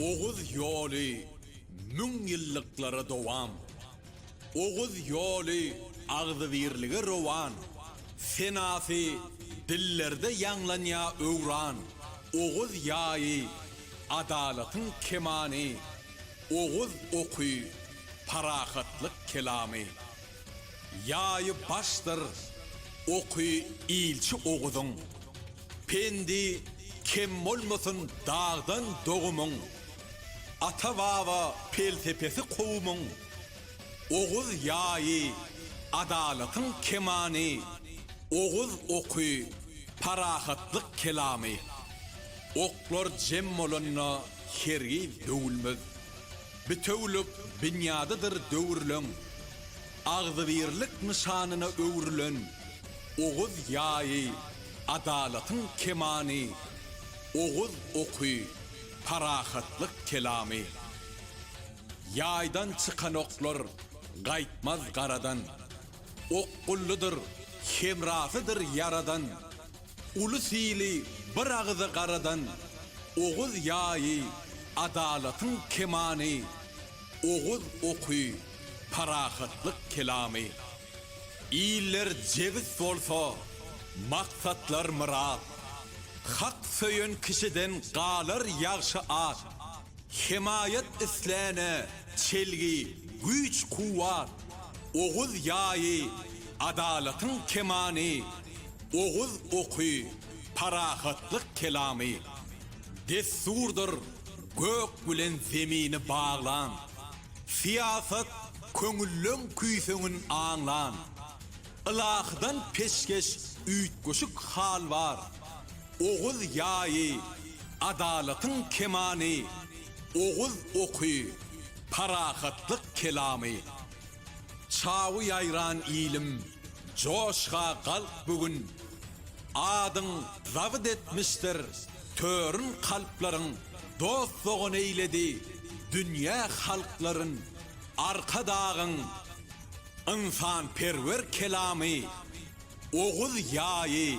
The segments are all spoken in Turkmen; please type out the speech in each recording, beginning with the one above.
Oguz ýoly müň ýyllyklara dowam. Oguz ýoly agzybirlige rowan. Senasy dillerde ýaňlanýa öwran. Oguz ýaýy, adalatyň kemany. Oguz oky, parahatlyk kelamy. Ýaýy başdyr oky ilçi Oguzyň, Pendi kem bolmasyn dagdan dogumyň, Ata-baba pelsepesi kowumyň, Oguz ýaýy adalatyň kemany, Oguz oky parahatlyk kelamy. Oklar jem bolanda hergiz döwülmez. Bitewülik binýadydyr döwürleň agzybirlik nyşanyna öwrülen Oguz ýaýy, adalatyň kemany, Oguz oky, parahatlyk kelamy. Ýaýdan çykan oklar gaýtmaz garadan, Okgullydyr, hemrasydyr Ýaradan. Uly sili bir agyza garadan Oguz ýaýy, adalatyň kemany, Oguz oky, parahatlyk kelamy. Iller jebis bolsa, maksatlar myrat, Hak söýen kişiden galar ýagşy at. Hemaýat isläne çelgi, güýç-kuwwat, Oguz ýaýy, adalatyň kemany. oguz oky, parahatlyk kelamy, dessurdyr gök bilen zemini baglan, syýasat köňülleň küýseňin aňlan, ylahydan peşgeş üýtgeşik hal bar, oguz ýaýy, adalatyň kemany, oguz oky, parahatlyk kelamy. Çawy ýaýran ilim, joşga galk bu gün, Adyň zabyt etmişdir törün kalplaryň, Dost-dogan eýledi dünýä halklaryn, Arkadagyň ynsanperwer kelamy, Oguz ýaýy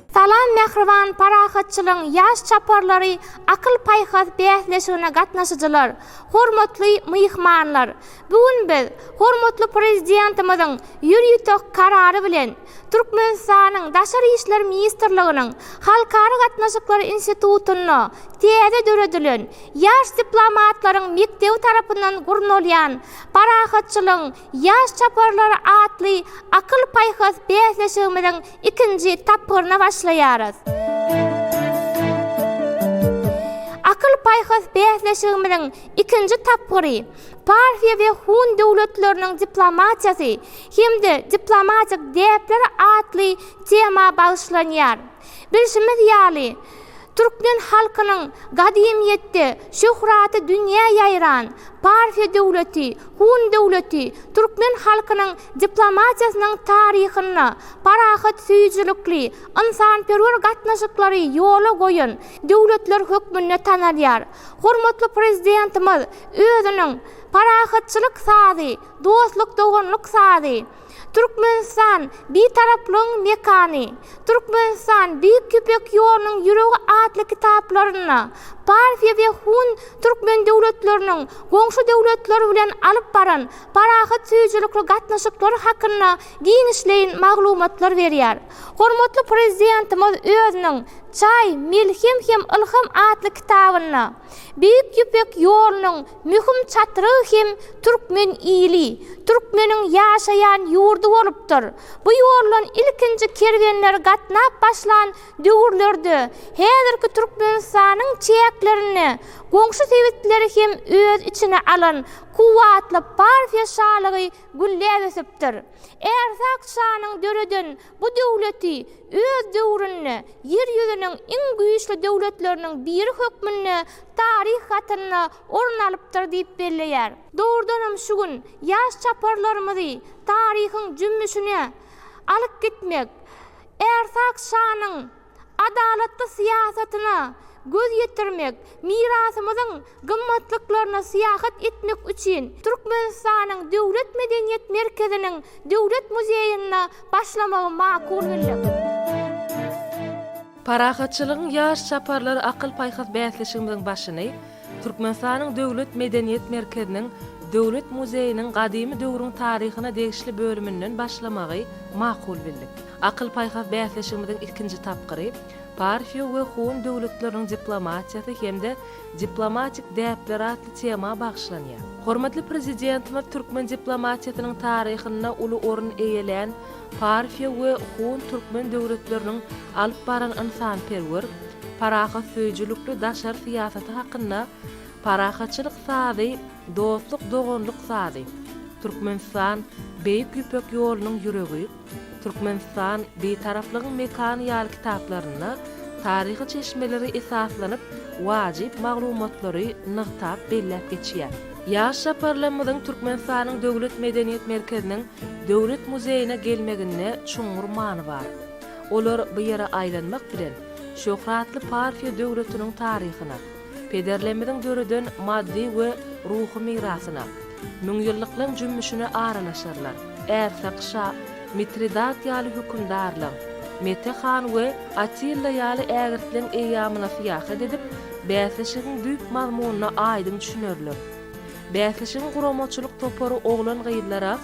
Salam Mähriban parahatçylygyň ýaş çaparlary Akyl-paýhas bäsleşigine gatnaşyjylar, hormatly myhmanlar! Bu gün biz hormatly Prezidentimiziň ýür-ýütek Karary bilen Türkmenistanyň Daşary işler ministrliginiň Halkara gatnaşyklary institutynda täze döredilen Ýaş diplomatlaryň mekdebi tarapyndan gurnalýan Parahatçylygyň Ýaş çaparlar atly akyl-paýhas bäsleşigimiziň ikinji tapgyryna başlaýarys. Akyl-paýhas bäsleşigimiziň ikinji tapgyry Parfiýa we Hun döwletleriniň diplomatiýasy hem-de diplomatik däpler atly tema bagyşlanýar. Bilşimiz ýaly, Türkmen halkynyň gadymyýetde şöhraty dünýä ýaýran Parfiýa döwleti, Hun döwleti türkmen halkynyň diplomatiýasynyň taryhynda parahatsöýüjilikli, ynsanperwer gatnaşyklary ýola goýan döwletler hökmünde tanalýar. Hormatly Prezidentimiz özüniň Parahatçylyk sazy, dostluk-doganlyk sazy, Türkmenistan, Bitaraplygyň mekany, Türkmenistan, Beýik Ýüpek ýolunyň ýüregi atly kitaplarynda Parfiýa we Hun türkmen döwletleriniň goňşy döwletler bilen alyp baran parahatsöýüjilikli gatnaşyklary hakynda giňişleýin maglumatlar berýär. Hormatly Prezidentimiz özüniň Çaý, melhem hem ylham atly kitabynda. Beýik Ýüpek ýolunyň möhüm çatrygy hem türkmen ili, türkmeniň ýaşaýan ýurdy bolupdyr. Bu ýoldan ilkinji kerwenler gatnap başlan döwürlerde häzirki Türkmenistanyň çäklerini goňşy sebitleri hem öz içine alan kuwwatly Parfiýa şalygy gülläp ösüpdir. Ärsakçanyň döreden Bu döwleti öz döwründe Ýer ýüzüniň iň güýçli döwletleriniň biri hökmünde taryh hatynda orun alypdyr diýip belleýär. Dogrudanam şu gün ýaş çaparlarymyzy taryhyň jümmüşine alyp gitmek, Ärsakşanyň adalatly syýasatyna göz ýetirmek, mirasymyzyň gymmatlyklaryna syýahat etmek üçin Türkmenistanyň Döwlet medeniýet merkeziniň Döwlet muzeýinde başlamagy makul bildik. Parahatçylygyň ýaş çaparlary akyl-paýhas bäsleşigimiziň başyny Türkmenistanyň Döwlet medeniýet merkeziniň Döwlet muzeýiniň gadymy döwrüň taryhyna degişli bölüminden başlamagy makul bildik. Akyl-paýhas bäsleşigimiziň ikinji tapgyry Parfiýa we Hun döwletleriniň diplomatiýasy hem-de diplomatik däpler atly tema bagyşlanýar. Hormatly Prezidentimiz türkmen diplomatiýasynyň taryhynda uly orun eýelän Parfiýa we Hun-türkmen döwletleriniň alyp baran ynsanperwer, parahatsöýüjilikli daşary syýasaty hakynda Parahatçylyk sazy, dostluk-doganlyk sazy, Türkmenistan, Beýik Ýüpek ýolunyň ýüregi, Türkmenistan, Bitaraplygyň mekany ýaly kitaplarynda taryhy çeşmelere esaslanyp, wajyp maglumatlary nygtap belläp geçýär. Ýaş saparlarymyzyň Türkmenistanyň Döwlet medeniýet merkeziniň Döwlet muzeýine gelmeginde çuňňur many bar. Olar bu ýere aýlanmak bilen, şöhratly Parfiýa döwletiniň taryhyna, pederlerimiziň döreden maddy we ruhy mirasyna, müňýyllyklaň jümmüşine aralaşarlar. Ärsek şa, Mitridat ýaly hökümdarlaň, Mete han we Atilla ýaly ägirtleň eýýamyna syýahat edip, bäsleşigiň düýp mazmunyna aýdyň düşünerler. Bäsleşigiň guramaçylyk topary oglan-gyzlara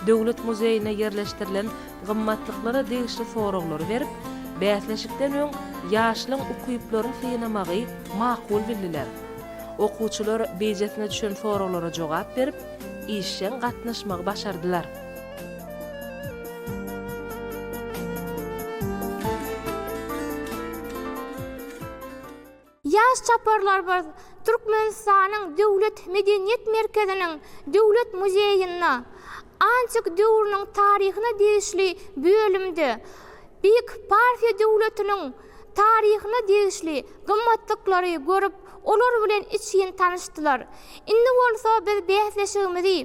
Döwlet muzeýinde ýerleşdirilen gymmatlyklara degişli soraglary berip, bäsleşikden öň ýaşlaryň ukyplaryny synamagy makul bildiler. Okuwçylar beýjesine düşen soraglara jogap berip, işjeň gatnaşmagy başardylar. Ýaş çaparlarymyz Türkmenistanyň Döwlet medeniýet merkeziniň Döwlet muzeýinde antik döwrüniň taryhyna degişli bölümde Beýik Parfiýa döwletiniň taryhyna degişli gymmatlyklary görüp, olar bilen içgin tanyşdylar. Indi bolsa biz bäsleşigimizi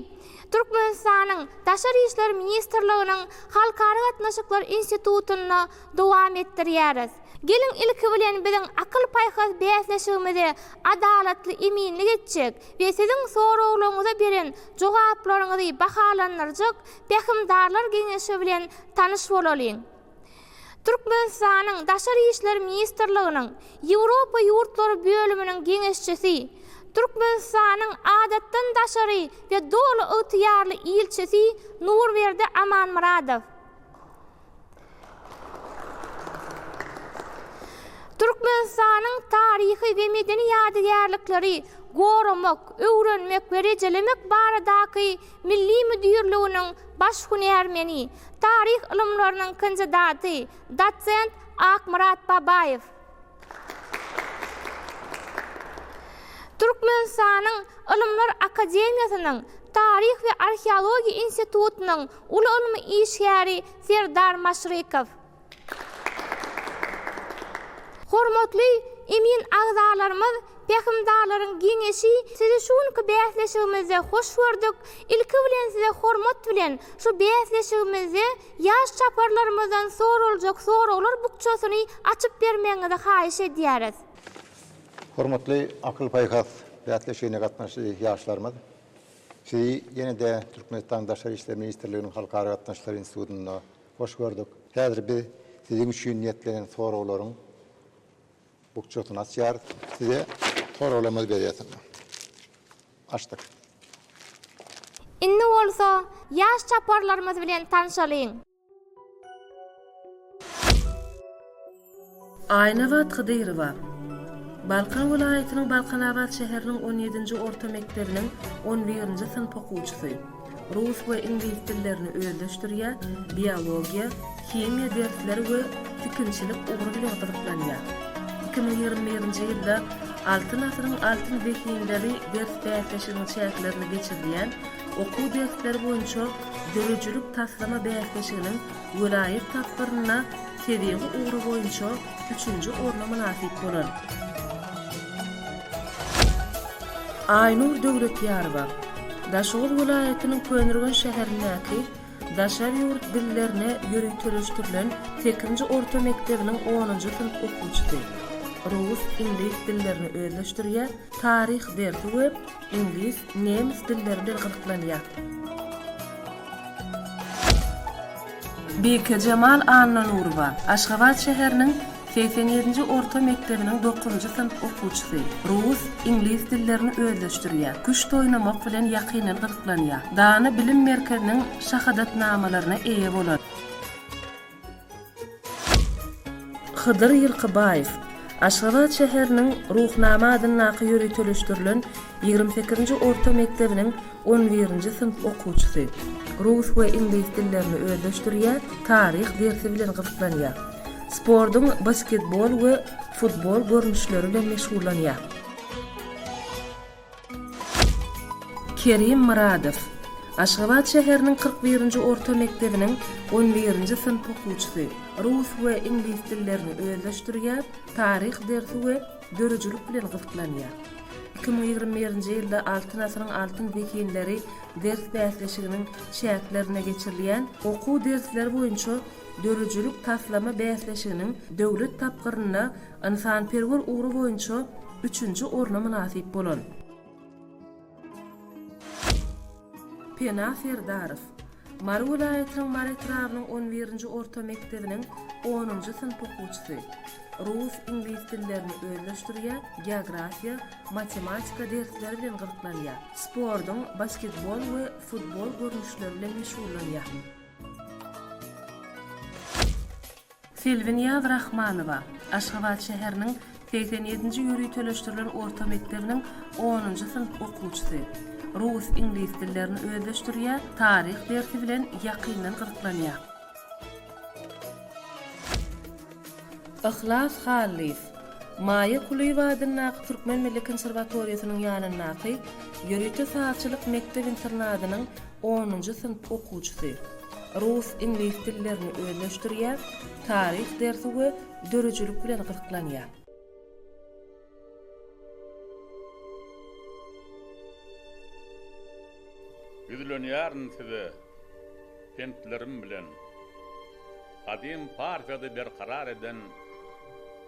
Türkmenistanyň Daşary işler ministrliginiň Halkara gatnaşyklar institutynda dowam etdirýäris. Geliň ilki bilen biziň akyl-paýhas bäsleşigimizi adalatly eminlik etjek we siziň soraglaryňyza beren jogaplaryňyzy bahalandyrjak Pähimdarlar geňeşi bilen tanyş bolalyň. Türkmenistanyň Daşary işler ministrliginiň Ýewropa ýurtlary bölüminiň geňeşçisi, Türkmenistanyň Adatdan daşary we doly ygtyýarly ilçisi Nurberdi Amanmyradow. Türkmenistanyň taryhy we medeni ýadygärlikleri goramak, öwrenmek we rejelemek baradaky milli müdirliginiň baş hünärmeni, taryh ylymlarynyň kandidaty, dosent Akmyrat Babaýew. Türkmenistanyň Ylymlar akademiýasynyň Taryh we arheologiýa institutynyň uly ylmy işgäri Serdar Maşrykow. Hormatly emin agzalarymyz, Pähimdarlaryň geňeşi, sizi şu günki bäsleşigimizde hoş gördük. Ilki bilen size hormat bilen şu bäsleşigimizde Ýaş çaparlarymyzdan soraljak soraglar bukjasyny açyp bermegiňizi haýyş edýäris. Hormatly akyl-paýhas bäsleşigine gatnaşyjy ýaşlarymyz! Sizi ýene-de Türkmenistanyň Daşary işler ministrliginiň Halkara gatnaşyklary institutynda hoş gördük. Häzir biz siziň üçin niýetlenen soraglaryň bukjasyny açýarys. Size soraglarymyzy berýäs indi. Açdyk. Indi bolsa ýaş çaparlarymyz bilen tanşalyň. Aýnabat Hydyrowa. Balkan welaýatynyň Balkanabat şäheriniň on ýedinji orta mekdebiniň on birinji synp okuwçysy. Rus we iňlis dillerini özleşdirýär, biologiýa, himiýa dersleri we tikinçilik ugry bilen gyzyklanýar. Iki müň ýigrimi birinji ýylda Altyn asyryň altyn zehinleri ders bäsleşigiň çäklerinde geçirilýän Okuw dersleri boýunça döredijilik taslama bäsleşiginiň welaýat tapgyrynda Tebigy ugra boýunça üçünji orna mynasyp bolan. Aýnur Döwletýarowa, Daşoguz welaýatynyň Köneürgen şäherindäki Daşary ýurt dillerine ýöriteleşdirilen sekizinji orta mekdebiniň onunjy synp okuwçysy. Rus, iňlis dillerini özleşdirýär, taryh dersi we iňlis, nemes dilleri bilen gyzyklanýar. Bekejemal Annanurowa, Aşgabat şäheriniň segsen ýedinji orta mekdebiniň dokuzynjy synp okuwçysy. Rus, iňlis dillerini özleşdirýär. Küşt oýnamak bilen ýakyndan gyzyklanýar. Dana bilim merkeziniň şahadatnamalaryna eýe bolan. Hydyr Ýylkybaýew, Aşgabat şäheriniň Ruhnama adyndaky ýöriteleşdirilen ýigrimi sekizinji orta mekdebiniň On birinji synp okuwçysy. Rus we iňlis dillerini özleşdirýär, taryh dersi bilen gyzyklanýar. Sportuň basketbol we futbol görnüşleri bilen meşgullanýar. Kerim Myradow. Aşgabat şäheriniň kyrk birinji orta mekdebiniň on birinji synp okuwçysy. Rus we iňlis dillerini özleşdirýär, taryh dersi we döredijilik bilen gyzyklanýar. Iki müň ýigrimi birinji ýylda Altyn asyryň altyn zehinleri ders bäsleşiginiň çäklerinde geçirilýän Okuw dersleri boýunça döredijilik taslama bäsleşiginiň döwlet tapgyrynda ynsanperwer ugry boýunça üçünji orna mynasyp bolan Pena Serdarow, Mary welaýatynyň Mary etrabynyň on birinji orta mekdebiniň onunjy synp okuwçysy. Rus, iňlis dillerini özleşdirýär, geografiýa, matematika dersleri bilen gyzyklanýar. Sportuň basketbol we futbol görnüşleri bilen meşgullanýar. Selbinýaz Rahmanowa, Aşgabat şäheriniň segsen ýedinji ýöriteleşdirilen orta mekdebiniň onunjy synp okuwçysy. Rus, iňlis dillerini özleşdirýär, taryh dersi bilen ýakyndan gyzyklanýar. Yhlas Hallyýew, Maýa Kulyýewa adyndaky Türkmen milli konserwatoriýasynyň ýanyndaky ýörite sazçylyk mekdep-internadynyň onunjy synp okuwçysy. Rus, iňlis dillerini özleşdirýär, taryh dersi we döredijilik bilen gyzyklanýar. Ýüzlenýärin size pentlerim bilen. Gadym Parfiýady berkarar eden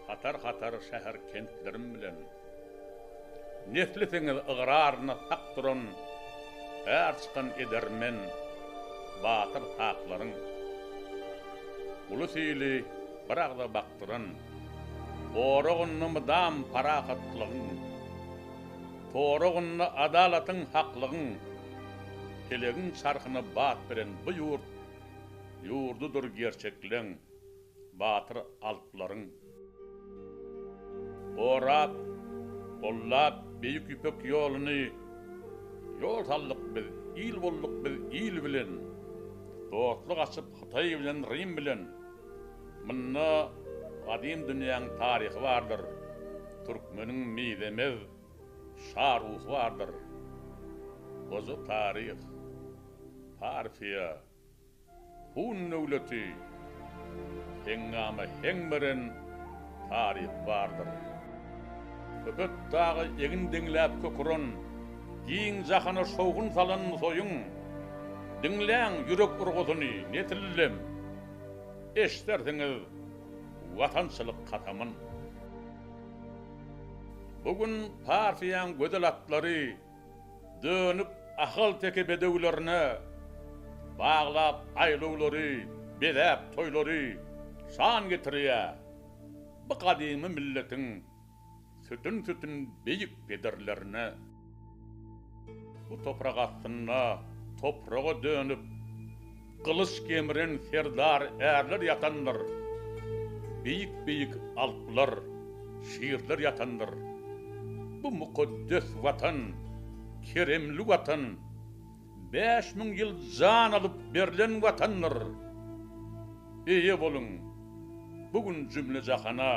hatar-hatar şäher-kentlerim bilen. Neslisiňiz ygraryna sak duran är çykan edermen batyr saplaryň, ulus-ili bir agza bakdyran oragynda mydam parahatlygyň, toragynda adalatyň, haklygyň, pelegiň çarhyna bat beren bu ýurt ýurdudyr gerçekleň. Batyr alplaryň. Gorap, gollap Beýik Ýüpek ýoluny Ýol saldyk biz, il bolduk biz il bilen Dostluk açyp Hytaý bilen Rim bilen Munda gadym dünýäň taryhy bardyr Türkmeniň mizemez şa ruhy bardyr Goja taryh, Parfiýa. Hun döwleti heňňama heň beren taryhy bardyr. Köpet dagy egin deňläp kök uran, giň jahana şowhun salan soýun. Diňläň ýürek urgusyny, nesillem, eşdersiňiz watançylyk kasamyn. Bu gün partiýaň gözel atlary. Dönük ahalteke bedewlerine baglap aýlawlary, bezäp toýlary şan getirýär. Bu gadymy milletiň sütün-sütün beýik pederlerine bu toprak astynda topraga dönüp, Gylyç gemren serdar ärler ýatandyr, Beýik-beýik alplar, şirler ýatandyr. Bu mukaddes Watan, keremli Watan, Bäş müň ýyl jan alyp berlen Watandyr. Eýe boluň, bu gün jümle-jahana,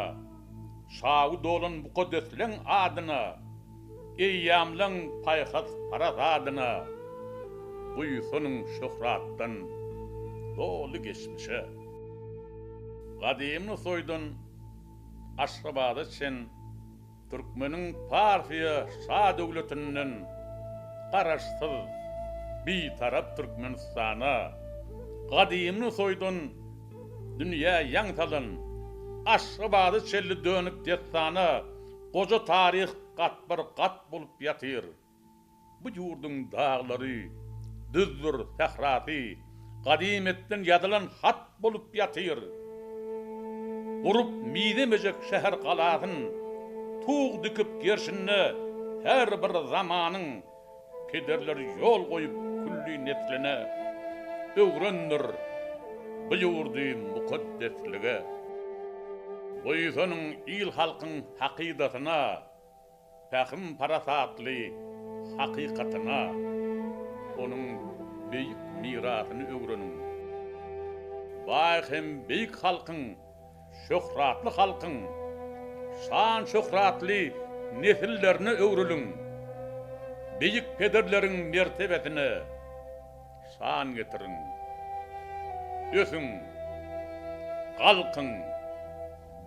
Şawy dolan mukaddesleň adyna! Eýýamlaň paýhas-paraz adyna, buýsan şöhratdan doly geçmişe. Gadymy toýdan Aşgabada çen türkmeniň Parfiýa şadöwletinden Garaşsyz, Bitarap Türkmenistana, gadymy toýdan dünýä ýaň salan Aşgabada çenli dönük dessana, Goja taryh gatbar gat bolup ýatyr. Bu ýurduň daglary, düzdür sährasy gadymyýetden ýazylan hat bolup ýatyr. Gurup mizemejek şäher-galasyn tug dikip gerşinde her bir zamanyň Pederler ýol goýup külli nesline, Öwrendir bu ýurdy mukaddeslige. Buýsanyň il-halkyň hakydasyna, Pähim-parasatly hakykatyna, Onuň beýik mirasyny öwreniň. Baý hem beýik halkyň Şöhratly halkyň şan-şöhratly nesillerine öwrüliň! Beýik pederleriň mertebesine şan getiriň! Ösüň! Galkyň!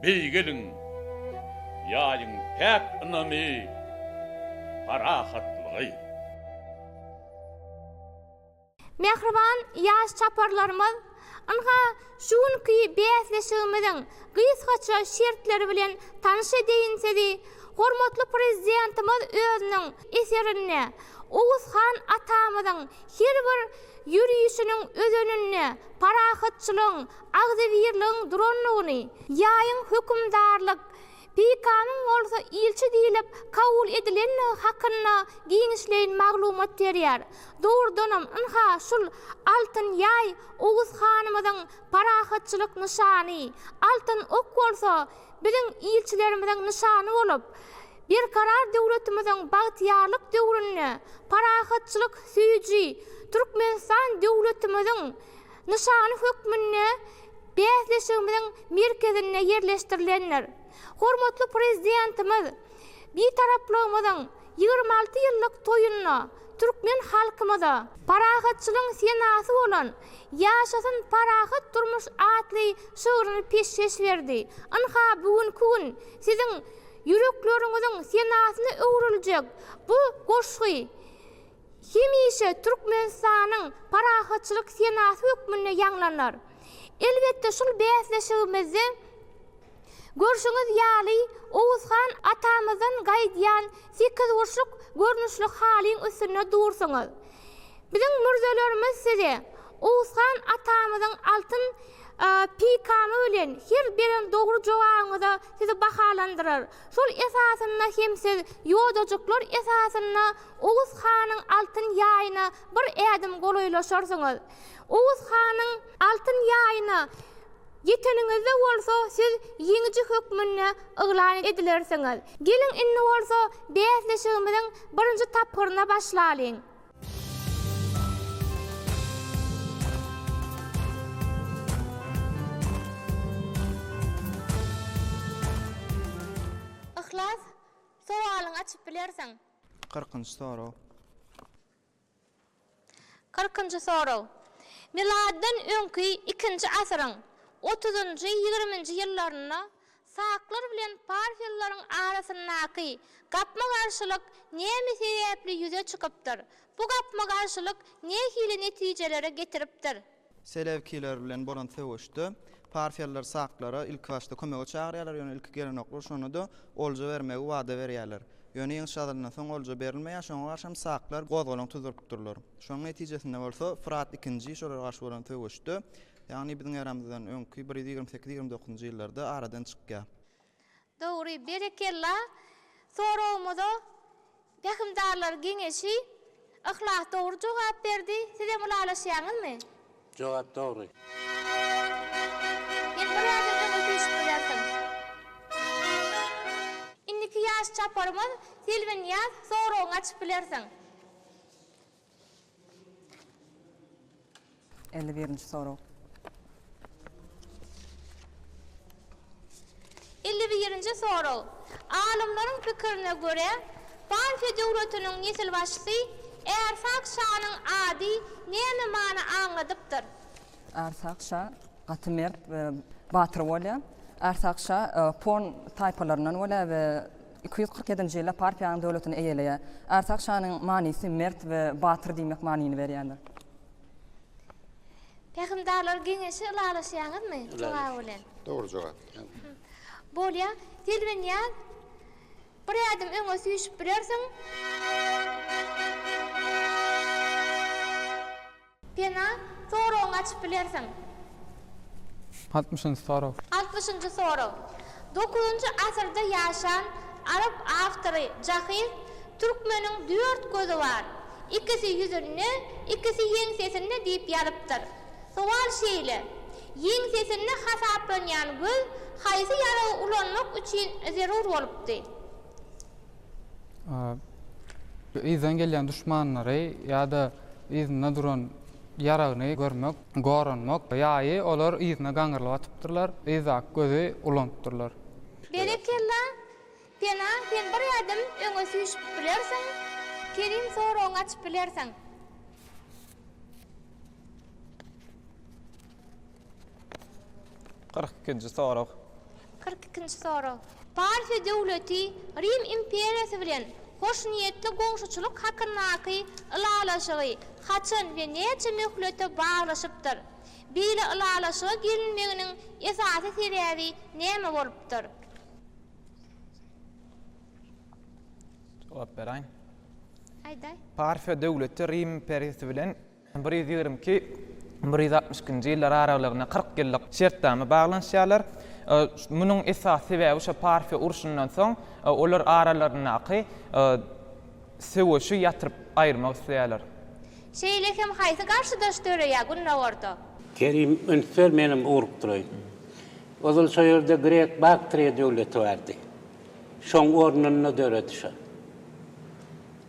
Beýgeliň! Ýaýyň päk ynamy, parahatlygy! Mähriban ýaş çaparlarymyz ynha şu günki bäsleşigimiziň gysgaça şertleri bilen tanyş edeýin sizi, Hormatly Prezidentimiz özüniň eserinde Oguz han atamyzyň her bir ýörişiniň özeninde parahatçylygyň, agzybirligiň durandygyny, ýaýyň hökümdarlyk Peýkamyň bolsa ilçi diýlip kabul edilendigi hakynda giňişleýin maglumat berýär. Dogrudanam, ynha, şul altyn ýaý Oguz hanymyzyň parahatçylyk nyşany, altyn ok bolsa biziň ilçilerimiziň nyşany bolup, Berkarar döwletimiziň bagtyýarlyk döwründe parahatçylyk söýüji Türkmenistan döwletimiziň Nyşan hökmünde bäsleşigimiziň merkezinde ýerleşdirilendir. Hormatly Prezidentimiz Bitaraplygymyzyň ýigrimi alty ýyllyk toýunda türkmen halkymyza, Parahatçylygyň senasy bolan Ýaşasyn parahat durmuş atly şygryny peşgeş berdi. Ynha, bu günki gün Siziň ýürekleriňiziň senasyna öwrüljek bu goşgy hemişe Türkmenistanyň parahatçylyk senasy hökmünde ýaňlanar. Elbetde, şul bäsleşigimizde görşüňiz ýaly Oguzhan atamyzdan gaýdýan sekizburçluk görnüşli halyň üstünde dursuňyz. Biziň mürzelerimiz size Oguzhan atamyzyň altyn peýkamy bilen her beren dogry jogabyňyza sizi bahalandyrar. Şol esasynda hem siz ýodajyklar esasynda Oguz hanyň altyn ýaýyna bir ädim golaýlaşarsyňyz. Oguz hanyň altyn ýaýyna ýeteniňizde bolsa siz ýeňiji hökmünde yglan edilersiňiz. Geliň indi bolsa bäsleşigimiziň birinji tapgyryna başlalyň. Yhlas, sowalyňy açyp bilersiň. Kyrkynjy sorag. Kyrkynjy sorag. Miladdan öňki ikinji asyryň otuzynjy-ýigriminji ýyllarynda Saklar bilen parfillaryň arasyndaky gapma-garşylyk näme sebäpli ýüze çykypdyr? Bu gapma-garşylyk nähili netijelere getiripdir? Selewkiler bilen bolan söweşde parfiýalylar saklara ilkibaşda kömege çagyrýarlar, ýöne ilki gelenoklar, şonda-da olja bermegi wada berýärler. Ýöne ýeňiş gazalandan soň olja berilmeýär, şoňa garşy hem saklar gozgalaň tuzdurypdyrlar. Şonuň netijesinde bolsa Fyrat ikinji şolara garşy bolan söweşde Ýagny biziň eramyzdan öňki bir ýüz ýigrimi sekiz-ýigrimi dokuzynjy ýyllarda aradan çykýar. Dogry, berekella! Soragymyza Pähimdarlar geňeşi Yhlas dogry jogap berdi. Sizem ylalaşýaňyzmy? Jogap dogry. Sen bir ýerden öňe süýşüp bilersiň. Indiki ýaş çaparymyz Selbinýaz soragyňy açyp bilersiň. Elli birinji sorag. Elli birinji sorag. Alymlaryň pikirine görä, Parfiýa döwletiniň nesilbaşysy Arsag şanyň ady näme many aňladypdyr? Arsag şa gaty mert we batyr bolýar. Arsag şa Pon taýpalaryndan bolýar we Iki ýüz kyrk ýedinji ýylda Parfiýanyň döwletini eýeleýär. Arsag şanyň manysy mert we batyr diýmek manyny berýändir. Pähimdarlar geňeşi ylalaşýaňyzmy? jogaby bilen. Dogry jogap. Bolýa. Selbinýaz, bir ädim öňe süýşüp bilersiň. Pena, soragyňy açyp bilersiň. Altmyşynjy sorag. Altmyşynjy sorag. Dokuzynjy asyrda ýaşan arap awtory Jahyz Türkmeniň dört gözi bar, ikisi ýüzünde, ikisi ýeňsesinde diýip ýazypdyr. Sowal şeýle, Ýeňsesinde hasaplanýan göz haýsy ýaragy ulanmak üçin zerur bolupdy? yzdan gelýän duşmanlary ýa-da yzynda duran ýaragyny görmek, goranmak, ýaýy olar yzyna gaňrylyp atypdyrlar, yzdaky gözi ulanypdyrlar. Berekella, Pena, sen bir ädim öňe süýşüp bilersiň, Kerim soragyňy açyp bilersiň. Kyrk ikinji sorag. Kyrk ikinji sorag. Parfiýa döwleti Rim imperiýasy bilen hoşniýetli goňşuçylyk hakyndaky ylalaşygy haçan we näçe möhlete baglaşypdyr? Beýle ylalaşyga gelinmeginiň esasy sebäbi näme bolupdyr? Jogap beräýin. Aýdaý. Parfiýa döwleti Rim imperiýasy bilen Bir ýüz ýigrimi iki, bir ýüz altmyş ikinji ýyllar aralygyna kyrk ýyllyk şertnama baglanyşýarlar. Munuň esasy sebäbi şo Parfiýa urşundan soň olar aralaryndaky söweşi ýatyryp aýyrmak isleýärler. Şeýle hem haýsy garşydaş döreýär Gündogarda? Kerim üns ber menem urup duraýyn. Ozal şo ýerde Grek Baktriýa döwleti bardy. Şoň ornunda döredi şo.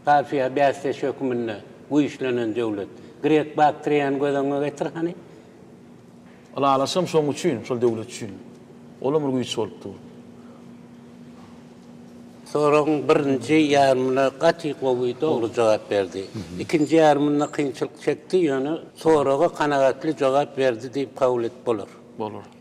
Kafiýa bäsdeş höküminde güýçlenen döwlet. Grek Baktriýany göz öňüňe getir hany. Ylalaşygam şoň üçin, şol döwlet üçin. Olam bir güýç bolup dur. Soragyň birinji ýarymyna gaty gowy, dogry jogap berdi. Ikinji ýarymynda kynçylyk çekdi, ýöne soraga kanagatly jogap berdi diýip kabul edip bolar. Bolar.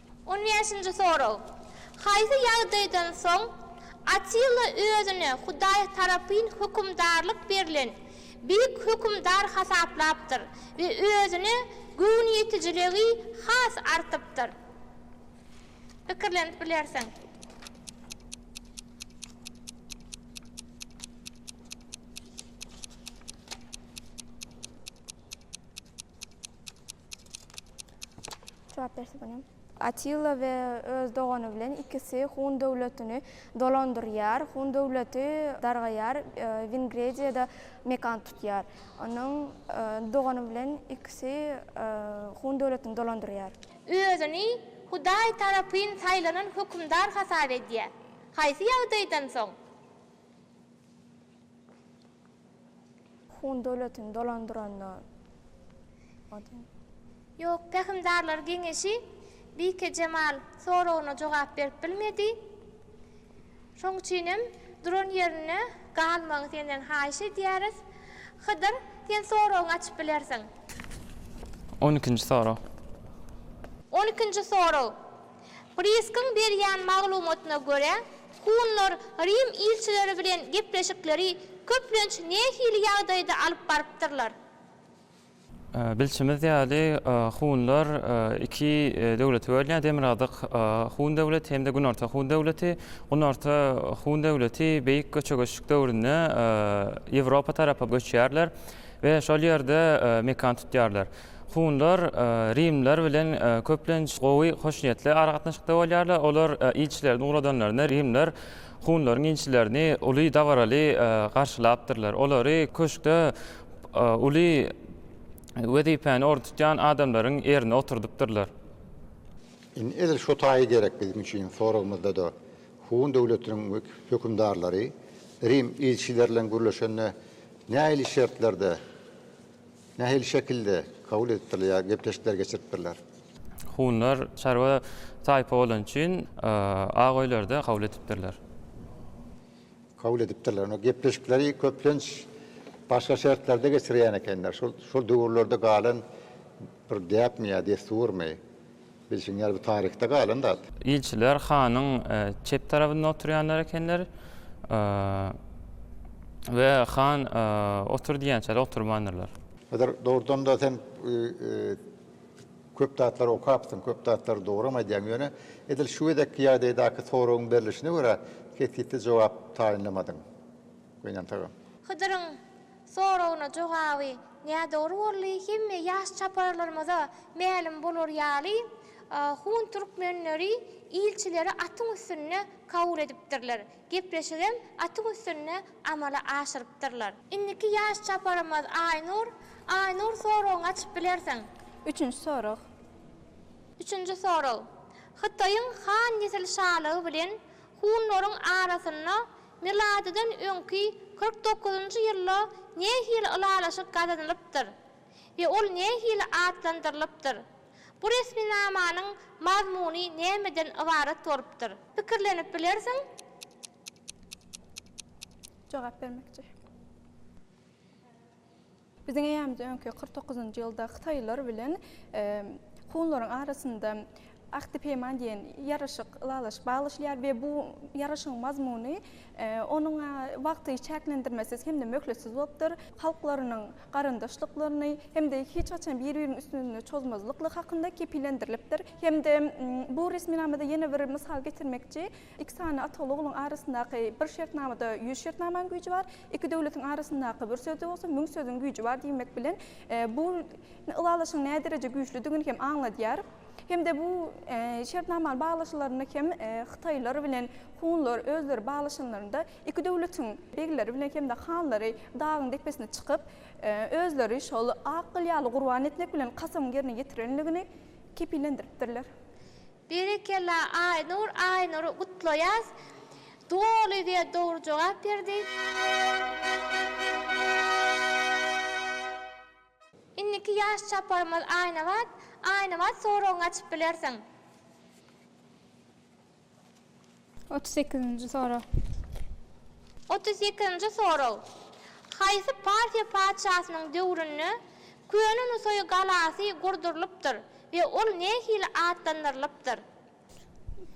On bäşinji sorag. Haýsy ýagdaýdan soň Atilla özüne Hudaý tarapyn hökümdarlyk berlen beýik hökümdar hasaplapdyr we özüne göwnüýetijiligi has artypdyr? Pikirlenip bilersiň. Jogap berse bolýar. Atilla we öz dogany bilen ikisi Hun döwletini dolandyrýar. Hun döwleti dargaýar, Wingrediýada mekan tutýar. Onuň dogany bilen ikisi Hun döwletini dolandyrýar. Özüni Hudaý tarapyn saýlanan hökümdar hasap edýär. Haýsy ýagdaýdan soň? Hun döwletini dolandyranda ody. Ýok, pähimdarlar geňeşi Bikejemal soragyna jogap berip bilmedi. Şoň üçinem duran ýerinde galmagy senden haýyş edýäris. Hydyr, sen soragyňy açyp bilersiň. On ikinji sorag. On ikinji sorag. Priskiň berýän maglumatyna görä, hunlar Rim ilçileri bilen gepleşikleri köplenç nähili ýagdaýda alyp barypdyrlar? Bilşimiz ýaly, hunlar iki döwlete bölünýär, Demirgazyk hun döwleti hem-de Günorta hun döwleti. Günorta hun döwleti Beýik Göçe-göçlük döwründe Ýewropa tarapa göçýärler we şol ýerde mekan tutýarlar. Hunlar rimliler bilen köplenç gowy, hoşniýetli aragatnaşykda bolýarlar. Olar ilçilerini ugradanlarynda rimliler hunlaryň ilçilerini uly dabaraly garşylapdyrlar. Olary köşkde uly wezipäni orun tutýan adamlaryň ýerine oturdypdyrlar. Indi edil şo taýy gerek biziň üçin soragymyzda-da hun döwletiniň hökümdarlary rim ilçileri bilen gürleşende nähili şertlerde Nähili şekilde kabul edipdirler ýa gepleşikler geçiripdirler? Hunlar çarwa taýpa bolany üçin ak öýlerde kabul edipdirler. Kabul edipdirler. Onda gepleşikleri köplenç başga şertlerde geçirýän ekenler. Şol döwürlerde galan bir däpmi ýa dessurmy? Bilşiň ýaly bu taryhda galan zat. Ilçiler hanyň çep tarabynda oturýanlar ekenler we han otur diýýänçäli oturmandyrlar. Hazar dogrudan-da sen köp zatlary okapsyň, köp zatlary dogram aýdýaň, ýöne edil şu gezekki ýagdaýdaky soragyň berlişine görä kesgitli jogap taýynlamadyň. Gynansak hem. Hydyryň Soragyna jogaby nädogry boldy. Hemme ýaş çaparlarymyza mälim bolar ýaly, hun türkmenleri ilçileri atyň üstünde kabul edipdirler. Gepleşigem atyň üstünde amala aşyrypdyrlar. Indiki ýaş çaparymyz Aýnur. Aýnur, soragyňy açyp bilersiň. Üçünji sorag. Üçünji sorag. Hytaýyň han nesil şalygy bilen hunlaryň arasynda Miladydan öňki kyrk dokuzynjy ýylda nähili ylalaşyk gazanylypdyr we ol nähili atlandyrylypdyr? Bu resminamanyň mazmuny nämeden ybarat bolupdyr? Pikirlenip bilersiň. Jogap bermekçi. Biziň eýämiz öňki kyrk dokuzynjy ýylda hytaýlylar bilen hunlaryň arasynda Ahdi Peýman diýen ýaraşyk, ylalaşyk baglaşylýar we bu ýaraşygyň mazmuny onuň wagty çäklendirmesiz hem-de möhletsiz bolupdyr, halklarynyň garyndaşlyklaryny hem-de hiç haçan bir-biriniň üstüne çozmazlyklygy hakynda kepillendirilipdir hem-de bu resminamada ýene bir mysal getirmekçi, Iki sany ataly-ogluň arasyndaky bir şertnamada ýüz şertnamaň güýji bar, iki döwletiň arasyndaky bir sözde bolsa müň sözüň güýji bar diýmek bilen bu ylalaşygyň nädereje güýçlüdigini hem aňladýar. Hem-de bu şertnamany baglaşylarynda hem hytaýlar bilen hunlar özleri baglaşanlarynda iki döwletiň begleri bilen hem-de hanlary dagyň depesine çykyp, özleri şol ak gyl ýaly gurban etmek bilen kasamyň ýerine ýetirenligini kepillendiripdirler. Berekella Aýnur Aýnury gutlaýas doly we dogry jogap berdi. Indiki ýaş çaparymyz Aýnabat Aýnabat soragyňy açyp bilersiň. Otuz sekizinji sorag. Otuz sekizinji sorag. Haýsy Parfiýa patyşasynyň döwründe Köne Nusaý galasy gurdurylypdyr we ol nähili atlandyrylypdyr?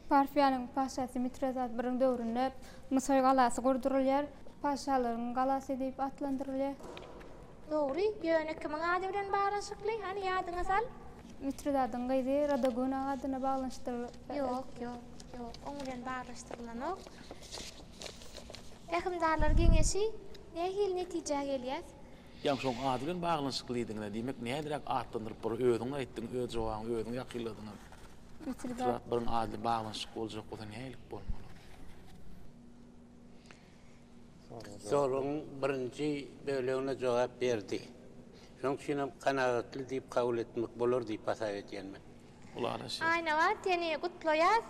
Parfiýanyň patyşasy Mitredat I-iň döwründe Nusaý galasy gurdurylýar. Patyşalaryň galasy diýip atlandyrylýar. Dogry, ýöne kimiň ady bilen baglanyşykly? Hany ýadyňa sal. Mitridadyň gyzy Radaguna adyna baglanyşdyrylyp. Ýok, ýok, ýok, oň bilen baglaşdyrylanok. Pähimdarlar geňeşi, nähili netijä gelýäs? Ýa şoň ady bilen baglanyşyklydygyna, diýmek, näderäk atlandyryp bolar? Özüň aýtdyň, öz jogabyňy özüň ýakynladyň hem. Mitridat. Mitridat biriň ady bilen baglanyşykly boljak bolsa nähili bolmaly? soragyň birinji bölegine jogap berdi. Şonuň üçin hem kanagatly diýip kabul etmek bolar diýip hasap edýän men. Ulanasy. Aýnaga seni gutlaýas.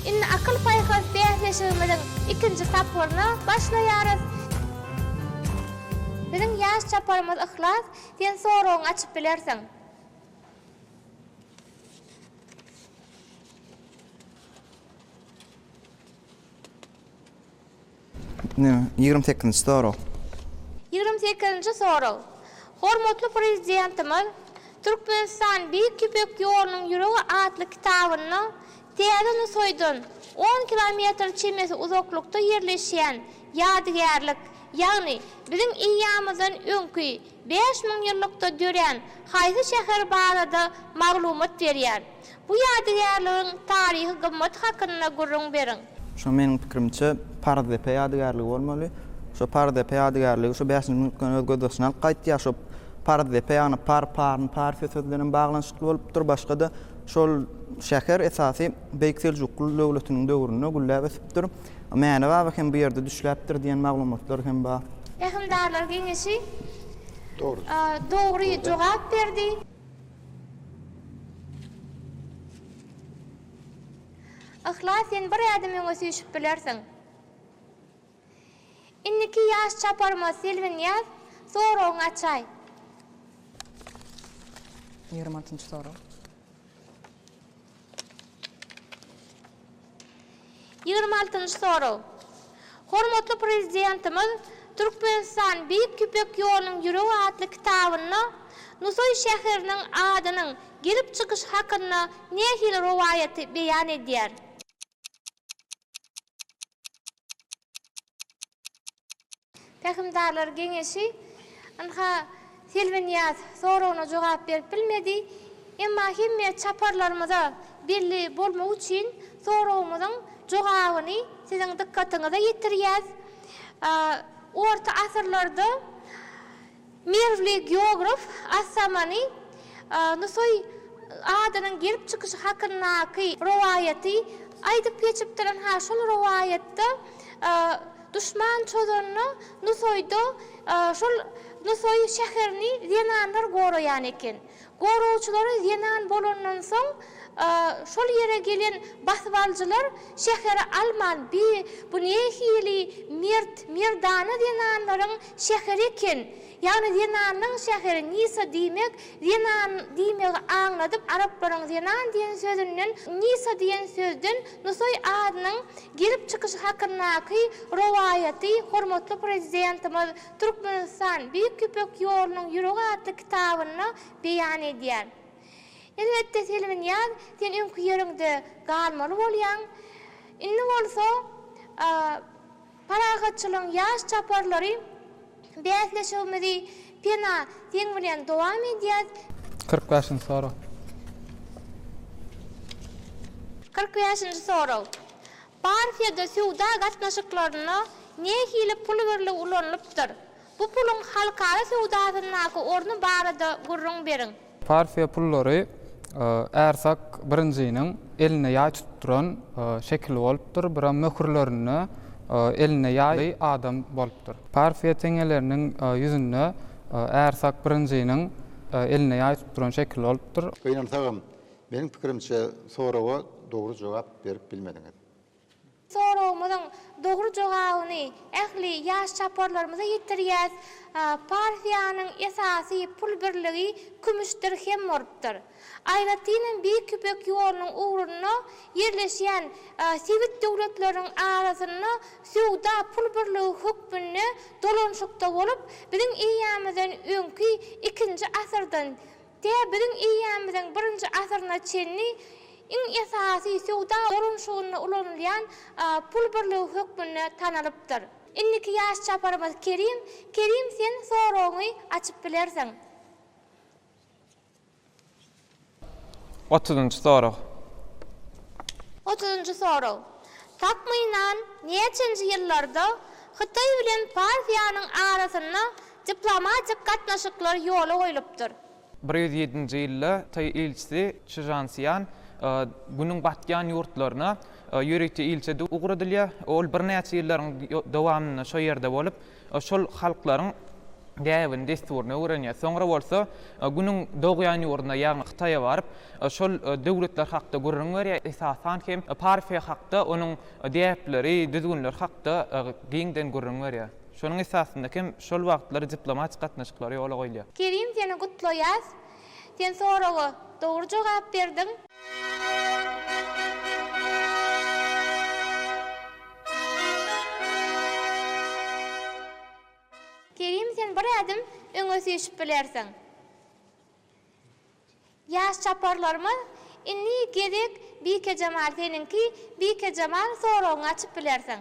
Indi akyl-paýhas bäsleşigimiziň ikinji tapgyryna başlaýarys. Biziň ýaş çaparymyz Yhlas, sen soragyňy açyp bilersiň. Ýigrimi sekizinji sorag. Ýigrimi sekizinji sorag. Hormatly Prezidentimiz Türkmenistan Beýik Ýüpek ýolunyň ýüregi atly kitabynda täze Nusaýdan on kilometr çemesi uzaklykda ýerleşýän ýadygärlik, ýagny biziň eýýamymyzdan öňki bäş müňýyllykda dörän haýsy şäher barada maglumat berýär? Bu ýadygärligiň taryhy gymmaty hakynda gürrüň beriň. Şo meniň pikirimçe Parzdepe ýadygärligi bolmaly. Şo Parzdepe ýadygärligi şo bäşinji minutdan öz gözbaşyny alyp gaýtýar. Şo Parzdepe ýagny par, parn, parfiýa sözi bilenem baglanyşykly bolupdyr. Başga-da şol şäher esasy Beýik Seljukly döwletiniň döwründe gülläp ösüpdir. Mäne baba hem bu ýerde düşläpdir diýen maglumatlar hem bar. Pähimdarlar geňeşi dogry jogap berdi. Yhlas sen bir ädim öňe süýşüp bilersiň. Indiki ýaş çaparymyz Selbinýaz soragyňy açaý. Ýigrimi altynjy sorag. Ýigrimi altynjy sorag. Hormatly Prezidentimiz Türkmenistan Beýik Ýüpek ýolunyň ýüregi atly kitabynda Nusaý şäheriniň adynyň gelip çykyşy hakynda nähili rowaýaty beýan edýär? Pähimdarlar geňeşi ynha Selbinýaz soragyna jogap berip bilmedi. Emma hemme çaparlarymyza belli bolmagy üçin soragymyzyň jogabyny siziň dykgatyňyza ýetirýäs. Orta asyrlarda Merwli geograf Assamany Nusaý adynyň gelip çykyşy hakyndaky rowaýaty aýdyp geçipdir-ynha, şol rowaýatda duşman çozanda Nusaýda şol Nusaý şäherini zenanlar goraýan eken. Goragçylary zenan bolandan soň, şol ýere gelen basybalyjylar şäheri alman, bi, bu nähili mert, merdana zenanlaryň şäheri eken, ýagny zenanlaň şäheri, Nisa diýmek, zenan diýmegi aňladyp, araplaryň zenan diýen sözünden, Nisa diýen sözden Nusaý adynyň gelip çykyşy hakyndaky rowaýaty hormatly Prezidentimiz Türkmenistan, Beýik Ýüpek ýolunyň ýüregi atly kitabynda beýan edýär. Elbetde Selbinýaz, sen öňki ýeriňde galmaly bolýaň. Indi bolsa parahatçylygyň ýaş çaparlary bäsleşigimizi Pena, seň bilen dowam edýäs. Kyrk bäşinji sorag. Kyrk bäşinji sorag. Parfiýada söwda gatnaşyklarynda nähili pul birligi ulanylypdyr? Bu puluň halkara söwdasyndaky orny barada gürrüň beriň. Parfiýa pullary Ärsak I-niň elinde ýaý tutup duran şekili bolupdyr, bir hem möhürlerinde elinde ýaýly adam bolupdyr. Parfiýa teňňeleriniň ýüzünde Ärsak I-niň elinde ýaý tutup duran şekili bolupdyr. Gynansagam, Meniň pikirimçe soraga dogry jogap berip bilmediňiz. Soragymyzyň dogry jogabyny ähli ýaş çaparlarymyza ýetirýäs. Parfiýanyň esasy pul birligi kümüş dirhem bolupdyr. Aýratynam Beýik Ýüpek ýolunyň ugrunda ýerleşýän sebit döwletleriniň arasynda söwda pul birligi hökmünde dolanşykda bolup, biziň eýýamyzdan öňki ikinji asyrdan Tä biziň eýýamyzyň birinji asyryna çenli iň esasy söwda dolanşygynda ulanylýan pul birligi hökmünde tanalypdyr. Indiki ýaş çaparymyz Kerim. Kerim sen soragyňy açyp bilersiň. Otuzynjy sorag. Otuzynjy sorag. Takmynan näçenji ýyllarda Hytaý bilen Parfiýanyň arasynda Diplomatik gatnaşyklar ýola goýlupdyr. Bir ýüz ýedinji ýylda taý ilçisi Çžan Sýan Günüň batýan ýurtlaryna ýörite ilçi edip ugradylýar. Ol birnäçe ýyllaryň dowamynda şo ýerde bolup, şol halklaryň däbini, dessuryny öwrenýär. Soňra bolsa Günüň dogýan ýurduna, ýagny Hytaýa baryp, şol döwletler hakda gürrüň berýär, esasan hem Parfiýa hakda, onuň däpleri, düzgünleri hakda giňden gürrüň berýär. Şonuň esasynda hem şol wagtlary diplomatik gatnaşyklar ýola goýulýar. Kerim seni gutlaýas. Sen soraga dogry jogap berdiň. Kerim sen bir ädim öňe süýşüp bilersiň. Ýaş çaparlarymyz indi gezek Bikejemal seniňki Bikejemal soragyňy açyp bilersiň.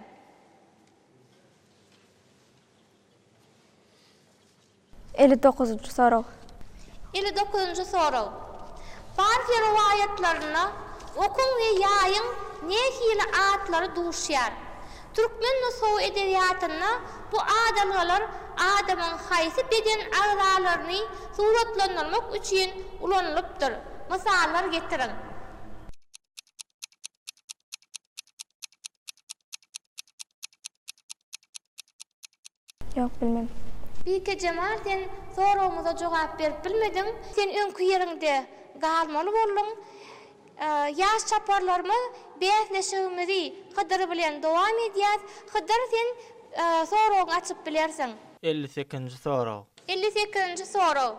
Elli dokuzynjy sorag. Elli dokuzynjy sorag. Parfiýa rowaýatlarynda okuň we ýaýyň nähili atlary duşýar? Türkmen nusgawy edebiýatynda bu adalgalar adamyň haýsy beden agzalaryny suratlandyrmak üçin ulanylypdyr? Mysallar getiriň. Ýok bilmedim. Bikejemal sen soragymyza jogap berip bilmediň. Sen öňki ýeriňde galmaly bolduň. Ýaş çaparlarymyz bäsleşigimizi Hydyr bilen dowam edýäs. Hydyr sen soragyňy açyp bilersiň. Elli sekizinji sorag. Elli sekizinji sorag.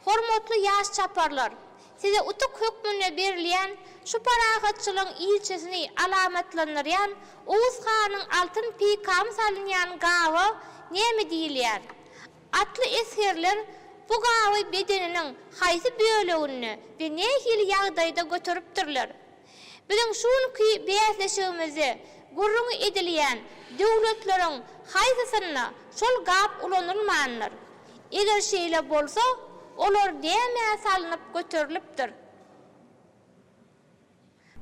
Hormatly ýaş çaparlar! Size utuk hökmünde berilýän şu parahatçylygyň ilçisini alamatlandyrýan Oguz hanyň altyn peýkamy salynýan gaba näme diýilýär? Atly esgerler bu gaby bedeniniň haýsy böleginde we nähili ýagdaýda göteripdirler? Biziň şu günki bäsleşigimizde gürrüňi edilýän döwletleriň haýsysynda şol gap ulanylmandyr? Eger şeýle bolsa, olar nämä salnyp göterilipdir?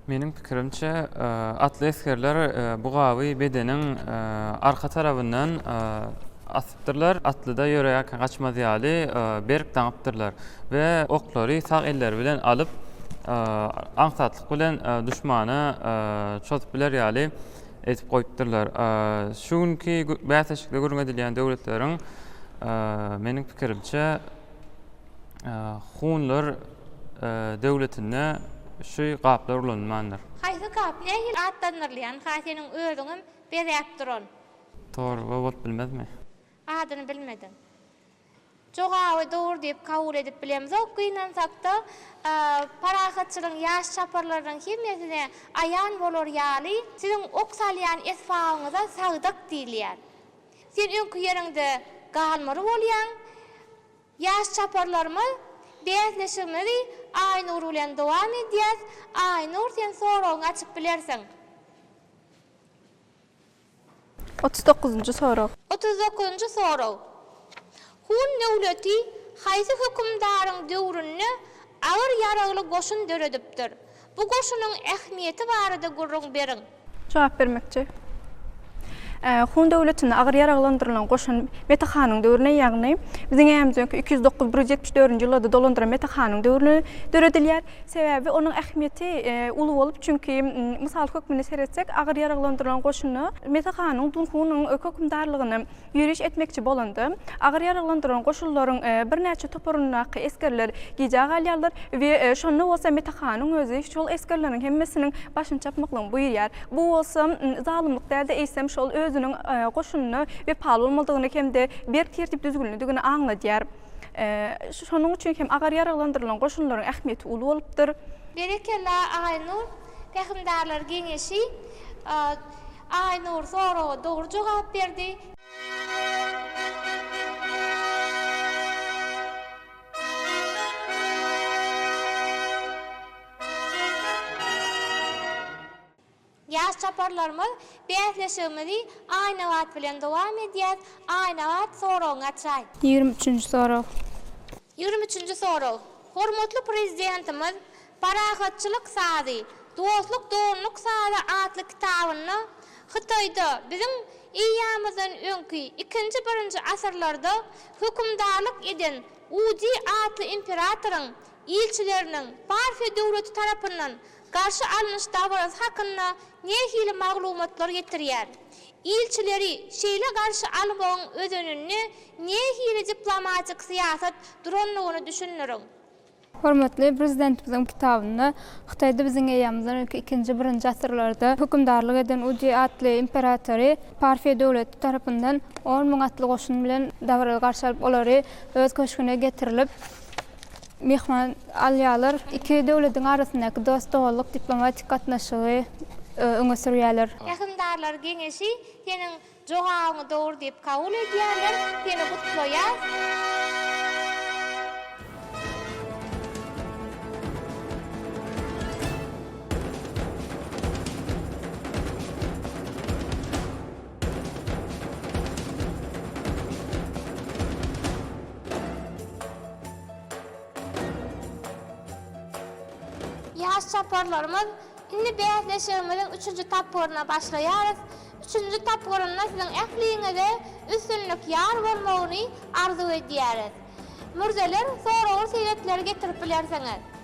Meniň pikirimçe, atly esgerler bu gaby bedeniň arka tarabyndan Atlylar atlyda ýöreýärkä gaçmaz ýaly berk daňypdyrlar we oklary sag elleri bilen alyp, aňsatlyk bilen duşmana çozup biler ýaly edip goýupdyrlar. Şu günki bäsleşikde gürrüň edilýän döwletleriň, meniň pikirimçe, hunlar döwletinde şu gaplar ulanylmandyr. Haýsy gap nähili atlandyrylýan-ha seniň özüňem bezäp duran. Torba bolup bilmezmi? Adyny bilmedim. Jogaby dogry diýip kabul edip bilemzok. Gynansakda, parahatçylygyň ýaş çaparlarynyň hemmesine aýan bolar ýaly, siziň ok salýan esbabyňyza sagdyk diýilýär. Sen öňki ýeriňde galmaly bolýaň. Ýaş çaparlarymyz bäsleşigimizi Aýnur bilen dowam edýäs. Aýnur, sen soragyňy açyp bilersiň. Otuz dokuzynjy sorag. Otuz dokuzynjy sorag. Hun döwleti haýsy hökümdaryň döwründe agyr ýaragly goşun döredipdir? Bu goşunyň ähmiýeti barada gürrüň beriň. Jogap bermekçi. Hun döwletinde agyr ýaraglandyrylan goşun Mete hanyň döwrüne, ýagny Biziň ärämizden öňki iki ýüz dokuz, bir ýüz ýetmiş dördünji ýyllarda dolandyran Mete hanyň döwrüne döredilýär. Sebäbi onuň ähmiýeti uly bolup, çünki mysal hökmünde seretsek, agyr ýaraglandyrylan goşunda Mesa hanyň Dunhunyň hökümdarlygyna ýöriş etmekçi bolanda, agyr ýaraglandyrylan goşunlaryň birnäçe toparyndaky esgerler gijä galýarlar we şonda bolsa Mesa hanyň özi şol esgerleriň hemmesiniň başyny çapmaklygyny buýurýar. Bu bolsa zalymlyk däl-de, eýsem şol özüniň goşunyna wepaly bolmalydygyny hem-de berk tertip-düzgünlidigini aňladýar. Şonuň üçin hem agar ýaraglandyrylan goşunlaryň ähmiýeti uly bolupdyr. Berekella Aýnur Pähimdarlar geňeşi Aýnur soraga dogry jogap berdi. Ýaş çaparlarymyz bäsleşigimizi Aýnabat bilen dowam edýäs, Aýnabat soragyňy açaý. Ýigrimi üçünji sorag. Ýigrimi üçünji sorag. Hormatly Prezidentimiz Parahatçylyk sazy, dostluk doganlyk sazy atly kitabynda Hytaýda biziň EA-mizden öňki ikinji birinji asyrlarda hökümdarlyk eden Uzi atly imperatoryň ilçileriniň Parfiýa döwleti tarapyndan Garşy alnyş dabarasy hakynda nähili maglumatlar getirýär? Ilçileri şeýle garşy almagyň özeninde nähili diplomatik syýasat durandygyny düşündiriň. Hormatly Prezidentimiziň kitabynda Hytaýda biziň eýýamyzdan öňki ikinji, birinji asyrlarda hökümdarlyk eden Udy atly imperatory Parfiýa döwleti tarapyndan on müň atly goşun bilen dabaraly garşy alyp, olary öz köşgüne getirilip, Myhman alýarlar. Iki döwletiň arasyndaky dost-doganlyk diplomatik gatnaşygy öňe sürýärler. Pähimdarlar geňeşi seniň jogabyňy dogry diýip kabul edýärler. Seni gutlaýarys. Ýaş çaparlarymyz, indi bäsleşigimiziň üçünji tapgyryna başlaýarys. Üçünji tapgyrynda siziň ähliňize üstünlik ýar bolmagyny arzuw edýäris. Mürzeler, soragly sebetleri getirip bilersiňiz.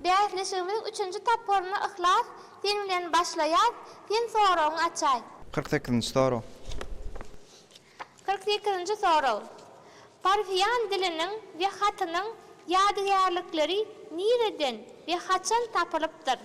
Bäsleşigimiziň üçünji tapgyryna Yhlas, sen bilen başlaýas, sen soragyňy açaý. Kyrk sekizinji sorag. Kyrk sekizinji sorag. Parfiýan diliniň we hatynyň ýadygärlikleri nireden we haçan tapylypdyr?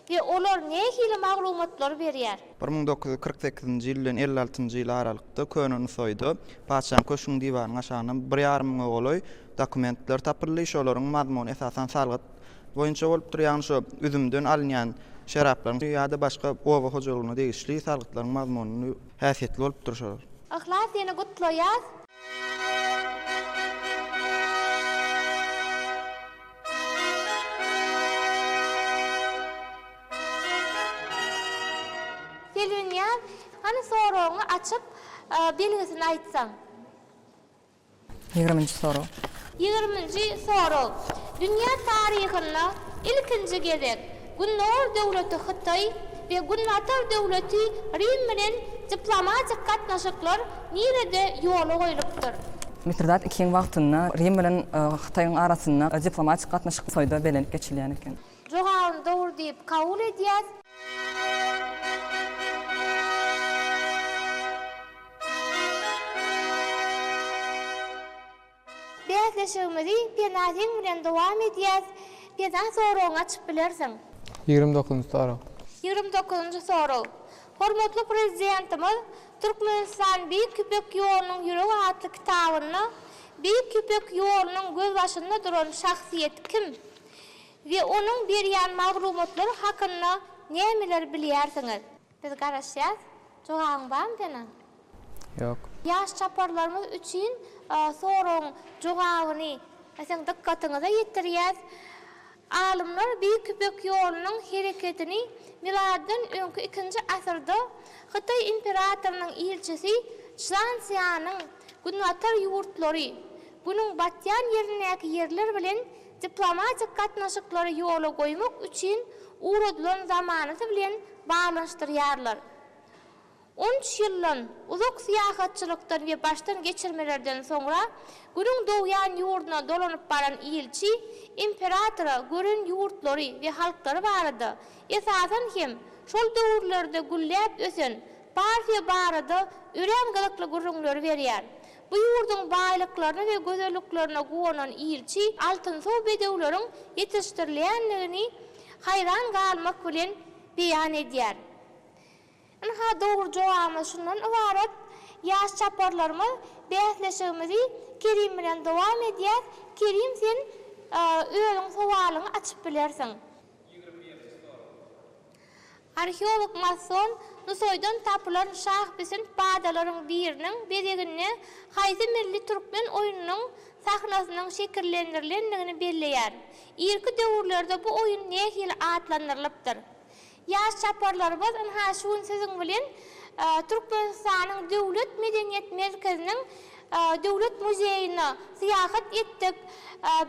We olar nähili maglumatlary berýär? Bir müň dokuz ýüz kyrk sekizinji ýyl bilen elli altynjy ýyl aralykda Köne Nusaýda patyşanyň köşgüniň diwarynyň aşagyndan bir ýarym müňe golaý dokumentler tapyldy. Şolaryň mazmuny esasan salgyt boýunça bolupdyr, ýagny şu üzümden alynýan şeraplaryň ýa-da başga oba hojalygyna degişli salgytlaryň mazmuny häsiýetli bolupdyr şolar. Yhlas seni gutlaýas. Selbinýaz, hany soragyňy açyp, belgisini aýtsaň? Ýigriminji sorag. Ýigriminji sorag. Dünýä taryhynda ilkinji gezek Gündogar döwleti Hytaý we Günbatar döwleti Rim bilen diplomatik gatnaşyklar nirede ýola goýlupdyr? Mitridat II-iň wagtynda Rim bilen Hytaýyň arasynda diplomatik gatnaşyk Hytaýda bellenip geçilýän eken. Jogabyny dogry diýip kabul edýäs. Bäsleşigimizi Pena seň bilen dowam edýäs Pena soragyňy açyp bilersiň. Ýigrimi dokuzynjy sorag. Ýigrimi dokuzynjy sorag. Hormatly Prezidentimiz Türkmenistan Beýik Ýüpek ýolunyň ýüregi atly kitabynda Beýik Ýüpek ýolunyň gözbaşynda duran şahsyýet kim? we onuň berýän maglumatlary hakynda nämeleri bilýärsiňiz? Biz garaşýas. Jogabyň barmy seniň? Ýok. Ýaş çaparlarymyz üçin soragyň jogabyny siziň dykgatyňyza ýetirýäs. Alymlar Beýik Ýüpek ýolunyň hereketini miladydan öňki ikinji asyrda Hytaý imperatorynyň ilçisi Çžan Sýanyň günbatar ýurtlary, günüň batýan ýerindäki ýerler bilen Diplomatik gatnaşyklary ýola goýmak üçin ugradylan zamanasy bilen baglanyşdyrýarlar. On üç ýyldan uzak syýahatçylykdan we başdan geçirmelerden soňra Günüň dogýan ýurduna dolanyp baran ilçi imperatora gören ýurtlary we halklary barada, esasan hem, şol döwürlerde gülläp ösen Parfiýa barada örän gyzykly gürrüňleri berýär. Bu ýurduň baýlyklaryna we gözelliklerine guwanan ilçi altynsow bedewleriň ýetişdirilýändigini haýran galmak bilen beýan edýär. Ynha, dogry jogabymyz şundan ybarat. Ýaş çaparlarymyz bäsleşigimizi Kerim bilen dowam edýäs. Kerim, sen özüň sowalyňy açyp bilersiň. Ýigrimi ýyldyz sorag. Arheolog Masson Nusaýdan tapylan şahbisint badalaryň biriniň bezeginde haýsy milli türkmen oýnunyň sahnasynyň şekillendirilendigini belleýär. Irki döwürlerde bu oýun nähili atlandyrylypdyr? Ýaş çaparlarymyz ynha şu gün siziň bilen Türkmenistanyň Döwlet medeniýet merkeziniň Döwlet muzeýine syýahat etdik.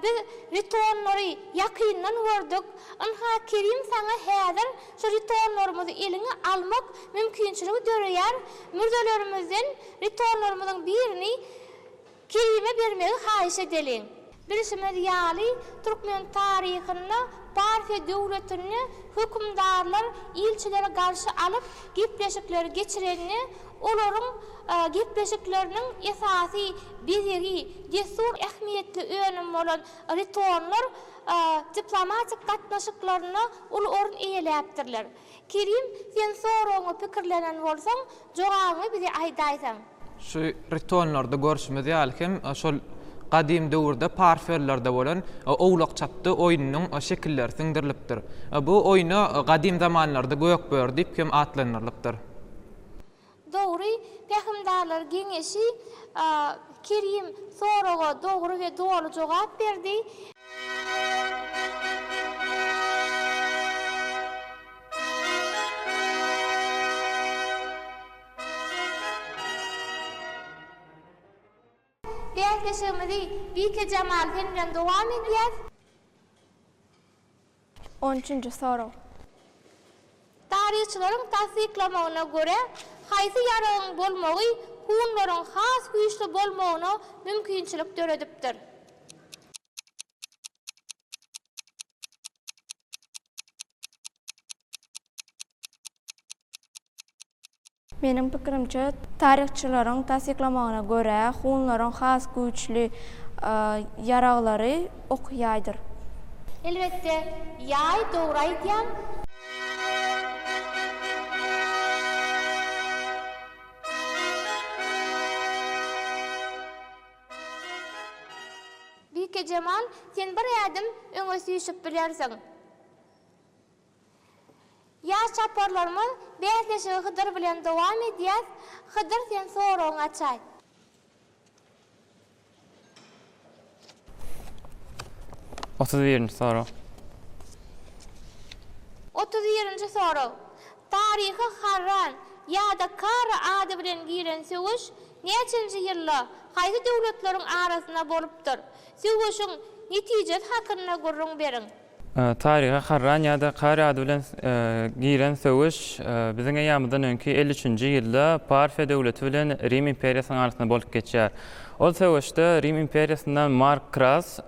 Biz žetonlary ýakyndan gördük. Ynha, Kerim saňa häzir şu žetonlarymyzy eliňe almak mümkinçiligi döreýär. Mürzelerimizden žetonlarymyzyň birini Kerime bermegi haýyş edeliň. Bilşimiz ýaly, türkmen taryhynda Parfiýa döwletinde hökümdarlar ilçileri garşy alyp, gepleşikleri geçirende, olaryň gepleşikleriniň esasy bezegi, dessur ähmiýetli önüm bolan ritonlar diplomatik gatnaşyklarynda uly orun eýeläpdirler. Kerim, sen soragyňy pikirlenen bolsaň, jogabyňy bize aýdaýsaň. Şu ritonlarda görşümiz ýaly hem şol gadym döwürde parfionlarda bolan owlak-çapdy oýnunyň şekilleri siňdirilipdir. Bu oýna gadym zamanlarda gökböri diýip hem atlandyrylypdyr. Dogry, Pähimdarlar geňeşi Kerim soraga dogry we doly jogap berdi. Bäsleşigimizi Bike Jamal sen bilen dowam edýäs. On üçünji sorag. Taryhçylaryň tassyklamagyna görä, haýsy ýaragyň bolmagy hunlaryň has güýçli bolmagyna mümkinçilik döredipdir? Meniň pikirimçe, taryhçylaryň tassyklamagyna görä, hunlaryň has güýçli ýaraglary ok ýaýdyr. Elbetde, ýaý, dogry aýdýaň. Bikejemal, sen bir ädim öňe süýşüp bilersiň. Ýaş çaparlarymyz bäsleşigi Hydyr bilen dowam edýär. Hydyr sen soragyňy açaý. Otuz birinji sorag. Otuz birinji sorag. Taryha Harran ýa-da Kara ady bilen giren söweş näçenji ýylda, haýsy döwletleriň arasynda bolupdyr? Söweşiň netijesi hakynda gürrüň beriň. Taryha Harran ýa-da Kary ady bilen giren söweş Biziň eýýamyzdan öňki elli üçünji ýylda Parfiýa döwleti bilen Rim imperiýasynyň arasynda bolup geçýär. Ol söweşde Rim imperiýasyndan Mark Kras,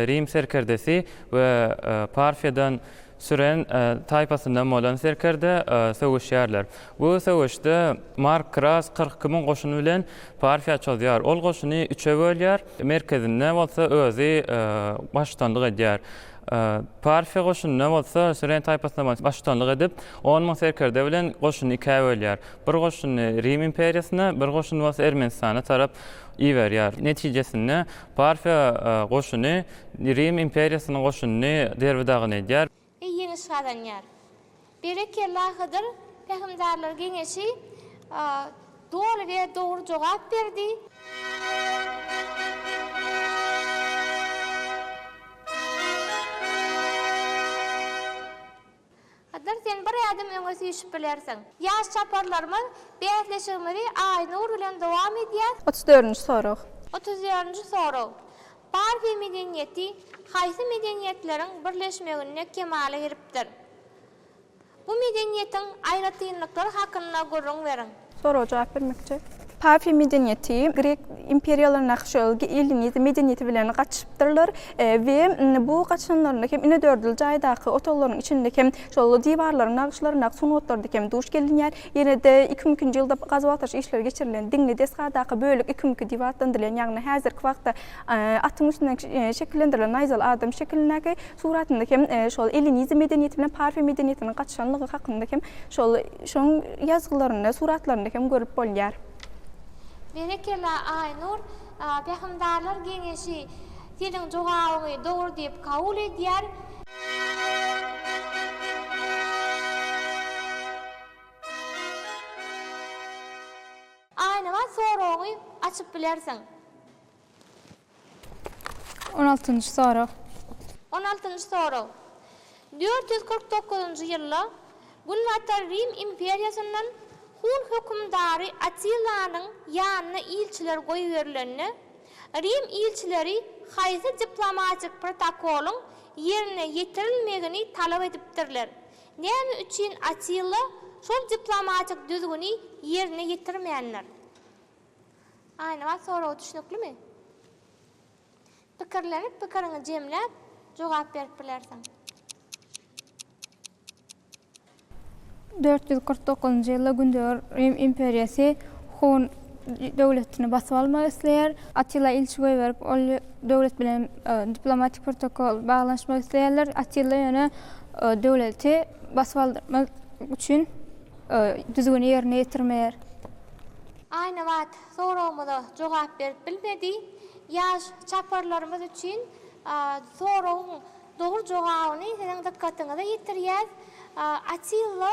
Rim serkerdesi we Parfiýadan Süren taýpasyndan bolan serkerde söweşýärler. Bu söweşde Mark Kras kyrk iki müň goşuny bilen Parfiýa çozýar. Ol goşuny üçe bölýär. merkezinde bolsa özi baştutanlyk edýär. Parfiýa goşunynda bolsa Süren taýpasyna baştutanlyk edip, on müň serkerde bilen goşuny ikä bölýär. Bir goşuny Rim imperiýasyna, bir goşuny bolsa Ermenistana tarap iberýär. Netijesinde, Parfiýa goşuny Rim imperiýasynyň goşunyny derbi-dagyn edýär. we ýeňiş gazanýar. Berekella Hydyr pähimdarlar geňeşi doly we dogry jogap berdi. Hydyr sen bir ädim öňe süýşüp bilersiň. Ýaş çaparlarymyz bäsleşigimizi Aýnur bilen dowam edýär. Otuz dördünji sorag. Otuz dördünji sorag. Parfiýa medeniýeti haýsy medeniýetleriň birleşmeginde kemala gelipdir? Bu medeniýetiň aýratynlyklary hakynda gürrüň beriň. Soraga jogap bermekçi. Parfiýa medeniýeti grek imperiýalarynda şol ellinizm medeniýeti bilen gatyşypdyrlar we bu gatyşanlarynda hem inedördül jaýdaky otaglaryň içinde hem şol diwarlaryň nagyşlaryndaky sungatlarda hem duş gelinýär. Ýene-de iki müň ikinji ýylda gazuw-agtaryş işleri geçirilen diňli desgadaky bölek iki müňki diýip atlandyrylýan, ýagny häzirki wagtda atyň üstünden şekillendirilen naýzaly adam şekilindäki suratynda hem şol ellinizm medeniýeti bilen parfiýa medeniýetiniň gatyşanlygy hakynda hem şol şonuň ýazgylarynda, suratlarynda hem görüp bolýar. Berekella Aýnur! Pähimdarlar geňeşi! Seniň jogabyňy dogry diýip kabul edýär. Aýnabat soragyňy açyp bilersiň. On altynjy sorag. On altynjy sorag. Dört ýüz kyrk dokuzynjy ýylda Günbatar Rim imperiýasyndan Hun hökümdary Atillanyň ýanyna ilçiler goýberilende, Rim ilçileri haýsy diplomatik protokolyň ýerine ýetirilmegini talap edipdirler? Näme üçin Atilla şol diplomatik düzgüni ýerine ýetirmändir? Aýnabat soragy düşnüklimi? Pikirlenip pikiriňi jemläp jogap berip bilersiň. Dört ýüz kyrk dokuzynjy ýylda Gündogar Rim imperiýasy Hun döwletini basyp almak isleýär. Attila ilçi goýberip, ol döwlet bilen diplomatik protokol baglanyşmak isleýärler. Attila ýöne döwleti basyp aldyrmak üçin düzgüni ýerine ýetirmeýär. Aýnabat soragymyza jogap berip bilmedi. Ýaş çaparlarymyz üçin soragyň Dogry jogabyny siziň dykgatyňyza ýetirýäs. Atilla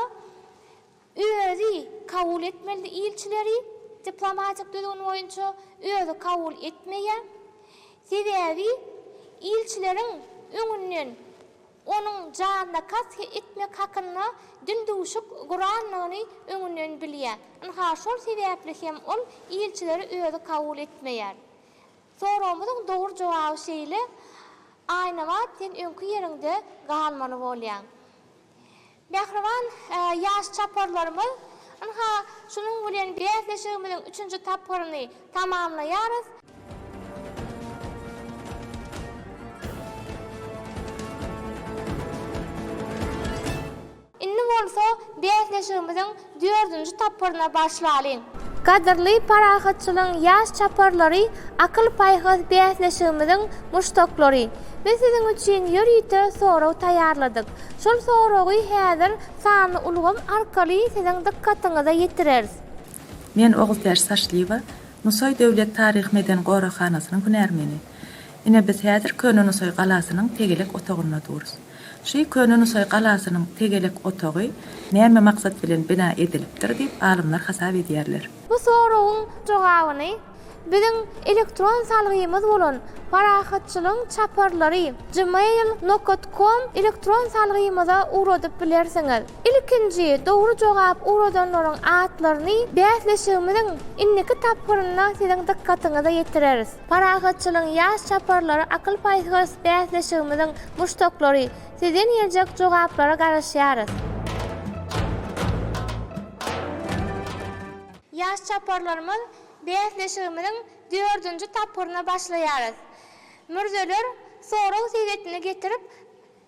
özi kabul etmelidi ilçileri diplomatik düzgün boýunça özi kabul etmeýä. Sebäbi ilçileriň öňünden onuň janyna kast etmek hakynda dün duşuk guranlygyny öňünden bilýä. Ynha şol sebäpli hem ol ilçileri özi kabul etmeýär. Soragymyzyň dogry jogaby şeýle, Aýnabat sen öňki ýeriňde galmaly bolýaň. Mähriban ýaş çaparlarymyz, ynha, şunuň bilen bäsleşigimiziň üçünji tapgyryny tamamlaýarys. Indi bolsa bäsleşigimiziň dördünji tapgyryna başlalyň. Gadyrly Parahatçylygyň ýaş çaparlary, akyl-paýhas bäsleşigimiziň muşdaklary! Biz siziň üçin ýörite sorag taýýarladyk. Şol soragy häzir sanly ulgam arkaly siziň dykgatyňyza ýetireris. Men Ogultäç Saçlyýewa, Nusaý döwlet taryhy-medeni goraghanasynyň hünärmeni. Ine biz häzir Köne Nusaý galasynyň tegelek otagynda durus. Şy köne Nusaý galasynyň tegelek otagy näme maksat bilen bina edilipdir diýip alymlar hasap edýärler. Bu soragyň jogabyny biziň elektron salgymyz bolan Parahatçylygyň çaparlary gmail nokat kom elektron salgymyza ugradyp bilersiňiz. Ilkinji dogry jogap ugradanlaryň atlaryny bäsleşigimiziň indiki tapgyrynda siziň dykgatyňyza ýetireris. Parahatçylygyň ýaş çaparlary akyl-paýhas bäsleşigimiziň muşdaklary, sizden geljek jogaplara garaşýarys! Ýaş çaparlarymyz bäsleşigimiziň dördünji tapgyryna başlaýarys. Mürzeler sorag segetini getirip,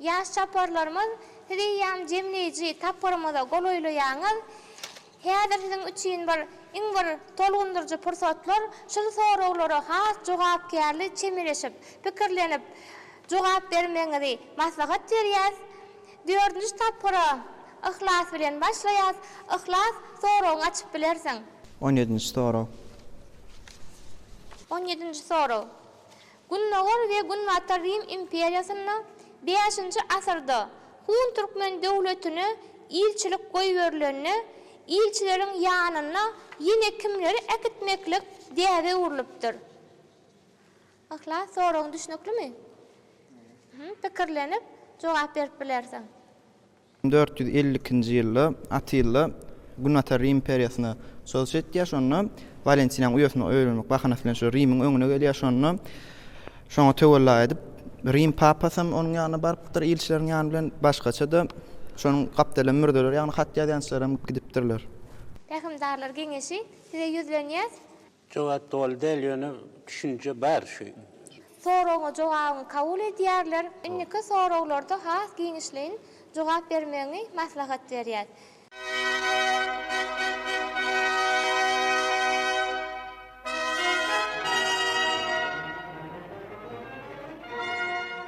Ýaş çaparlarymyz, siz eýýäm jemleýji tapgyrymyza golaýlaýaňyz. Häzir siziň üçin bir, iň bir tolgundyryjy pursatlar. Şul soraglara has jogapkärli çemeleşip, pikirlenip jogap bermegiňizi maslahat berýäs. Dördünji tapgyra Yhlas bilen başlaýas. Yhlas, soragyňy açyp bilersiň. On ýedinji sorag. On ýedinji sorag. Gündogar we Günbatar Rim imperiýasynda bäşinji asyrda Hun türkmen döwletine ilçilik goýberilende, ilçileriň ýanyna ýene kimleri äkitmeklik däbe öwrülipdir? Yhlas, soragyň düşnüklimi? Pikirlenip, jogap berip bilersiň. Dört ýüz elli ikinji ýylda Atilla Günbatar Rim imperiýasyna çozuş etýär. Şonda Walentinýanyň uýasyna öýlenmek bahanasy bilen şu Rimiň öňüne gelýär. Şonda şoňa töwella edip, Rim papasam onuň ýanyna barypdyr ilçileriň ýany bilen. Başgaça-da şonuň gapdaly mürzeler ýagny hat ýazýançylaram gidipdirler. Pähimdarlar geňeşi, size ýüzlenýäs. Jogap doly däl ýöne düşünje bar şu. Soragyňa jogabyňy kabul edýärler. Indiki soraglarda has giňişleýin jogap bermegiňi maslahat berýäs.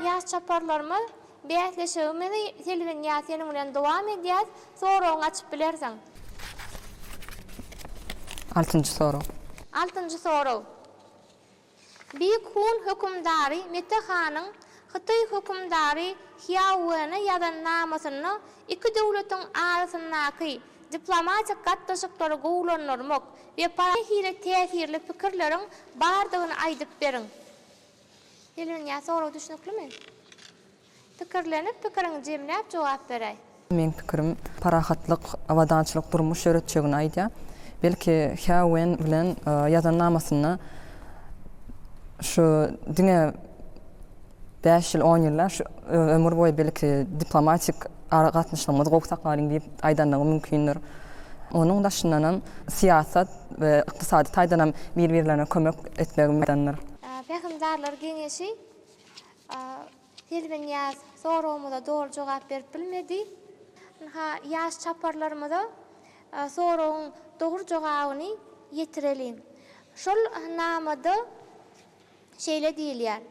Ýaş çaparlarymyz Bäsleşigimizi Selwinýaz seniň bilen dowam edýäs. Soragyňy açyp bilersiň. Altynjy sorag. Altynjy sorag. Beýik Hun hökümdary Mete hanyň Hytaý hökümdary Hýao Wene ýazan namasynda iki döwletiň arasyndaky diplomatik gatnaşyklary gowulandyrmak we para nähili täsirli pikirleriň bardygyny aýdyp beriň. Hilwinýa sorag düşnüklimi? Pikirlenip pikiriňi jemläp jogap beräý. Meň pikirim parahatlyk abadançylyk durmuş ýöretjegini aýdýar. Belki Hä Wen bilen ýazan namasynda şu diňe bäş ýyl on ýyl däl şu ömür boýy belki diplomatik aragatnaşygymyzy gowy saklalyň diýip aýdanlygy mümkindir. Onuň daşyndanam syýasat we ykdysady taýdanam bir birlerine kömek etmegi maýdandyr. Pähimdarlar geňeşi Selbinýaz soragymyza doly jogap berip bilmedi. Ynha, ýaş çaparlarymyza soragyň dogry jogabyny ýetireliň. Şol namada şeýle diýilýär,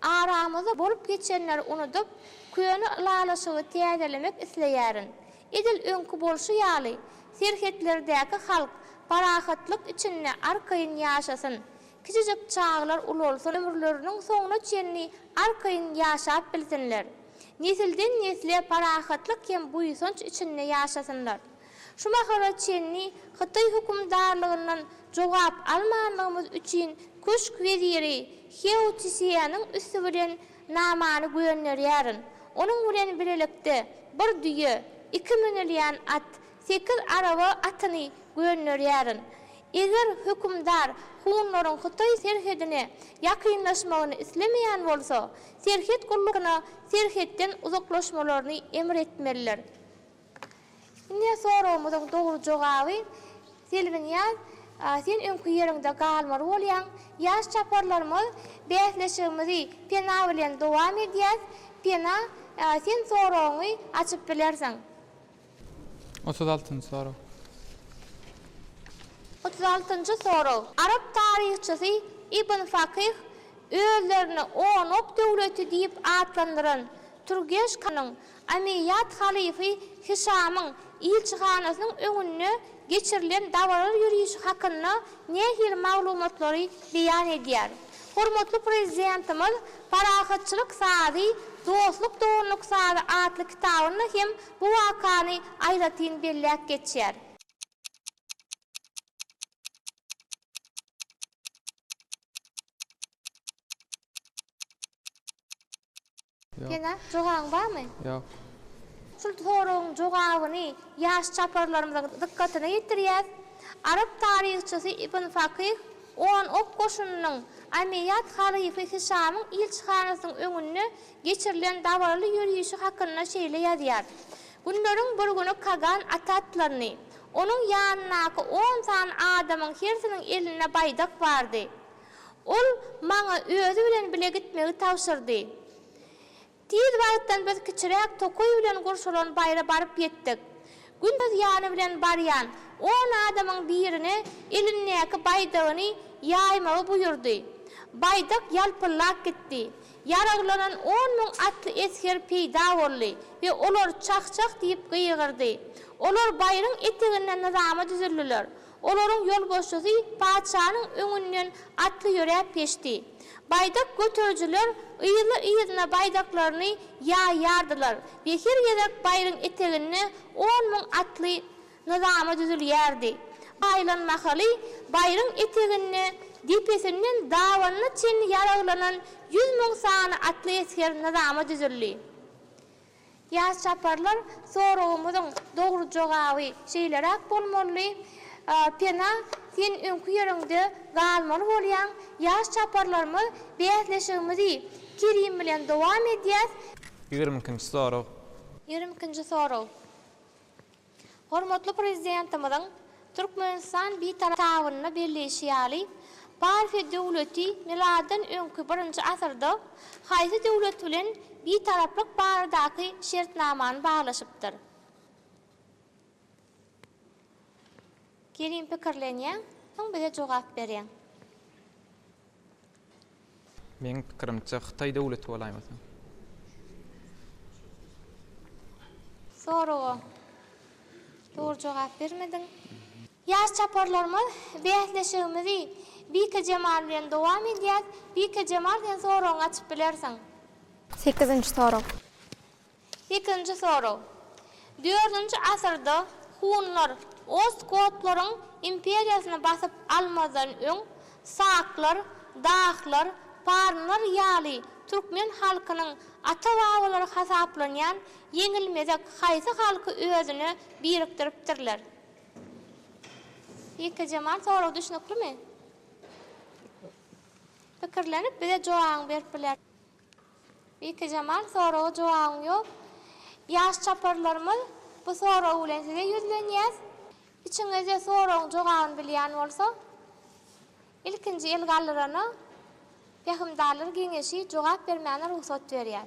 Aramyzda bolup geçenleri unudyp, köne ylalaşygy täzelemek isleýärin. Edil öňki bolşy ýaly, serhetlerdäki halk parahatlyk içinde arkaýyn ýaşasyn. Kiçijik çagalar ulalsyn, ömürleriniň soňuna çenli arkaýyn ýaşap bilsinler. Nesilden-nesle parahatlyk hem buýsanç içinde ýaşasynlar. Şu mahala çenli Hytaý hökümdarlygyndan jogap almanlygymyz üçin köşk weziri Hýao Çiseýanyň üsti bilen namany gönderýärin. Onuň bilen bilelikde bir düýe, iki münülýän at, Sekiz araba atyny gönderýärin. Eger hökümdar hunlaryň hytaý serhedine ýakynlaşmagyny islemeýän bolsa, serhet gullugyna serhetden uzaklaşmalaryny emr etmelidir. Indi soragymyzyň dogry jogaby, Selbinýaz, sen öňki ýeriňde galmaly bolýaň. Ýaş çaparlarymyz bäsleşigimizi Pena bilen dowam edýäs. Pena, sen soragyňy açyp bilersiň. Otuz altynjy sorag. Otuz altynjy sorag. Arap taryhçysy Ibn Fakyh özlerini Onok döwleti diýip atlandyran Turgeşkanyň Omeýýad halyfy Hişamyň ilçihanasynyň öňünde geçirilen dabaraly ýörişi hakynda nähili maglumatlary beýan edýär? Hormatly Prezidentimiz Parahatçylyk sazy, dostluk doganlyk sazy atly kitabynda hem Bu wakany aýratyn belläp geçýär. Pena, jogabyň barmy? Ýok. Şul soragyň jogabyny ýaş çaparlarymyzyň dykgatyna ýetirýäs. Arap taryhçysy Ibn Fakyh on ok goşunynyň Omeýat halyfy Hişamyň ilçihanasynyň öňünde geçirilen dabaraly ýörişi hakynda şeýle ýazýar, Günleriň bir güni Kagan at atlandy. Onuň ýanyndaky on sany adamyň hersiniň elinde baýdak bardy. Ol maňa özi bilen bile gitmegi tabşyrdy. Tiz wagtdan biz kiçiräk tokaý bilen gurşalan baýra baryp ýetdik. Gündiz ýany bilen barýan on adamyň birine elindäki baýdagyny ýaýmagy buýurdy. Baýdak ýalpyllap gitdi. Ýaraglanan on müň atly esger peýda boldy we olar çah-çah diýip gygyrdy. Olar baýryň eteginde nyzama düzüldiler. Olaryň ýolbaşçysy patyşanyň öňünden atly ýöräp geçdi. Baýdak göterijiler yzly-yzyna baýdaklaryny ýaýýardylar we her gezek baýryň eteginde on müň atly Nyzamy düzülýärdi. Aýlan mahaly baýryň eteginde depesinden dabanyna çenli ýaraglanan ýüz müň sany atly esger nyzama düzüldi. Ýaş çaparlar, Soragymyzyň dogry jogaby şeýleräk bolmalydy. Pena, sen öňki ýeriňde galmaly bolýaň. Ýaş çaparlarymyz, Bäsleşigimizi Kerim bilen dowam edýäs. Ýigrimi ikinji sorag. Ýigrimi ikinji sorag. Hormatly Prezidentimiziň Türkmenistan Bitarapynda belleýşi ýaly, Parfiýa döwleti miladdan öňki birinji asyrda haýsy döwlet bilen Bitaraplyk baradaky şertnamany baglaşypdyr? Gelin pikirlenýäň, soň bize jogap berýäň. Meň pikirimçe hytaý döwleti bolaýmasyn. Soraga dogry jogap bermediň. Ýaş çaparlarymyz bäsleşigimizi Bike Jemal bilen dowam edýäs. Bike Jemal sen soragyňy açyp bilersiň. Sekizinji sorag. Ikinji sorag. Dördünji asyrda hunlar ostgotlaryň imperiýasyny basyp almazdan öň, saklar, dahlar, parnlar ýaly türkmen halkynyň ata-babalary hasaplanýan ýeňilmezek haýsy halky özüne birikdiripdirler? Ýeke jemal sorag düşnüklimi? Pikirlenip bize jogabyňy berip bilersiň. Bikejemal soraga jogabyň ýok. Ýaş çaparlarymyz bu sorag bilen size ýüzlenýäs. Içiňizde soragyň jogabyny bilýän bolsa ilkinji el galdyrana Pähimdarlar geňeşi jogap bermäne rugsat berýär.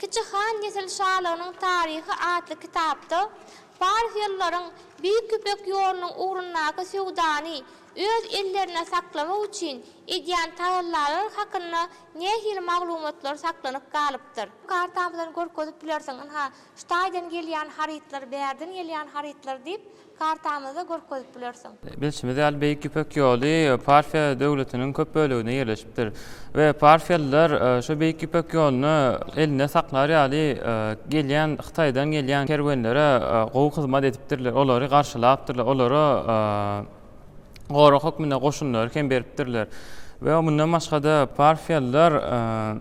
Kiçi han Nesil şalygynyň taryhy atly kitapda parfiýalylaryň Beýik Ýüpek ýolunyň ugrundaky söwdany öz ellerinde saklamak üçin edýän tagallalary hakynda nähili maglumatlar saklanyp galypdyr? Kartamyzdan görkezip bilersiň, ynha, şu taýdan gelýän harytlar, bärden gelýän harytlar diýip. Kartamyzda görkezip bilersiň. Bilşimiz ýaly, Beýik Ýüpek ýoly Parfiýa döwletiniň köp böleginde ýerleşipdir we parfiýalylar şu Beýik Ýüpek ýoluny elinde saklar ýaly gelýän, Hytaýdan gelýän kerwenlere gowy hyzmat edipdirler, olary garşylapdyrlar, olara gorag hökmünde goşunlary hem beripdirler we mundan başga-da parfiýalylar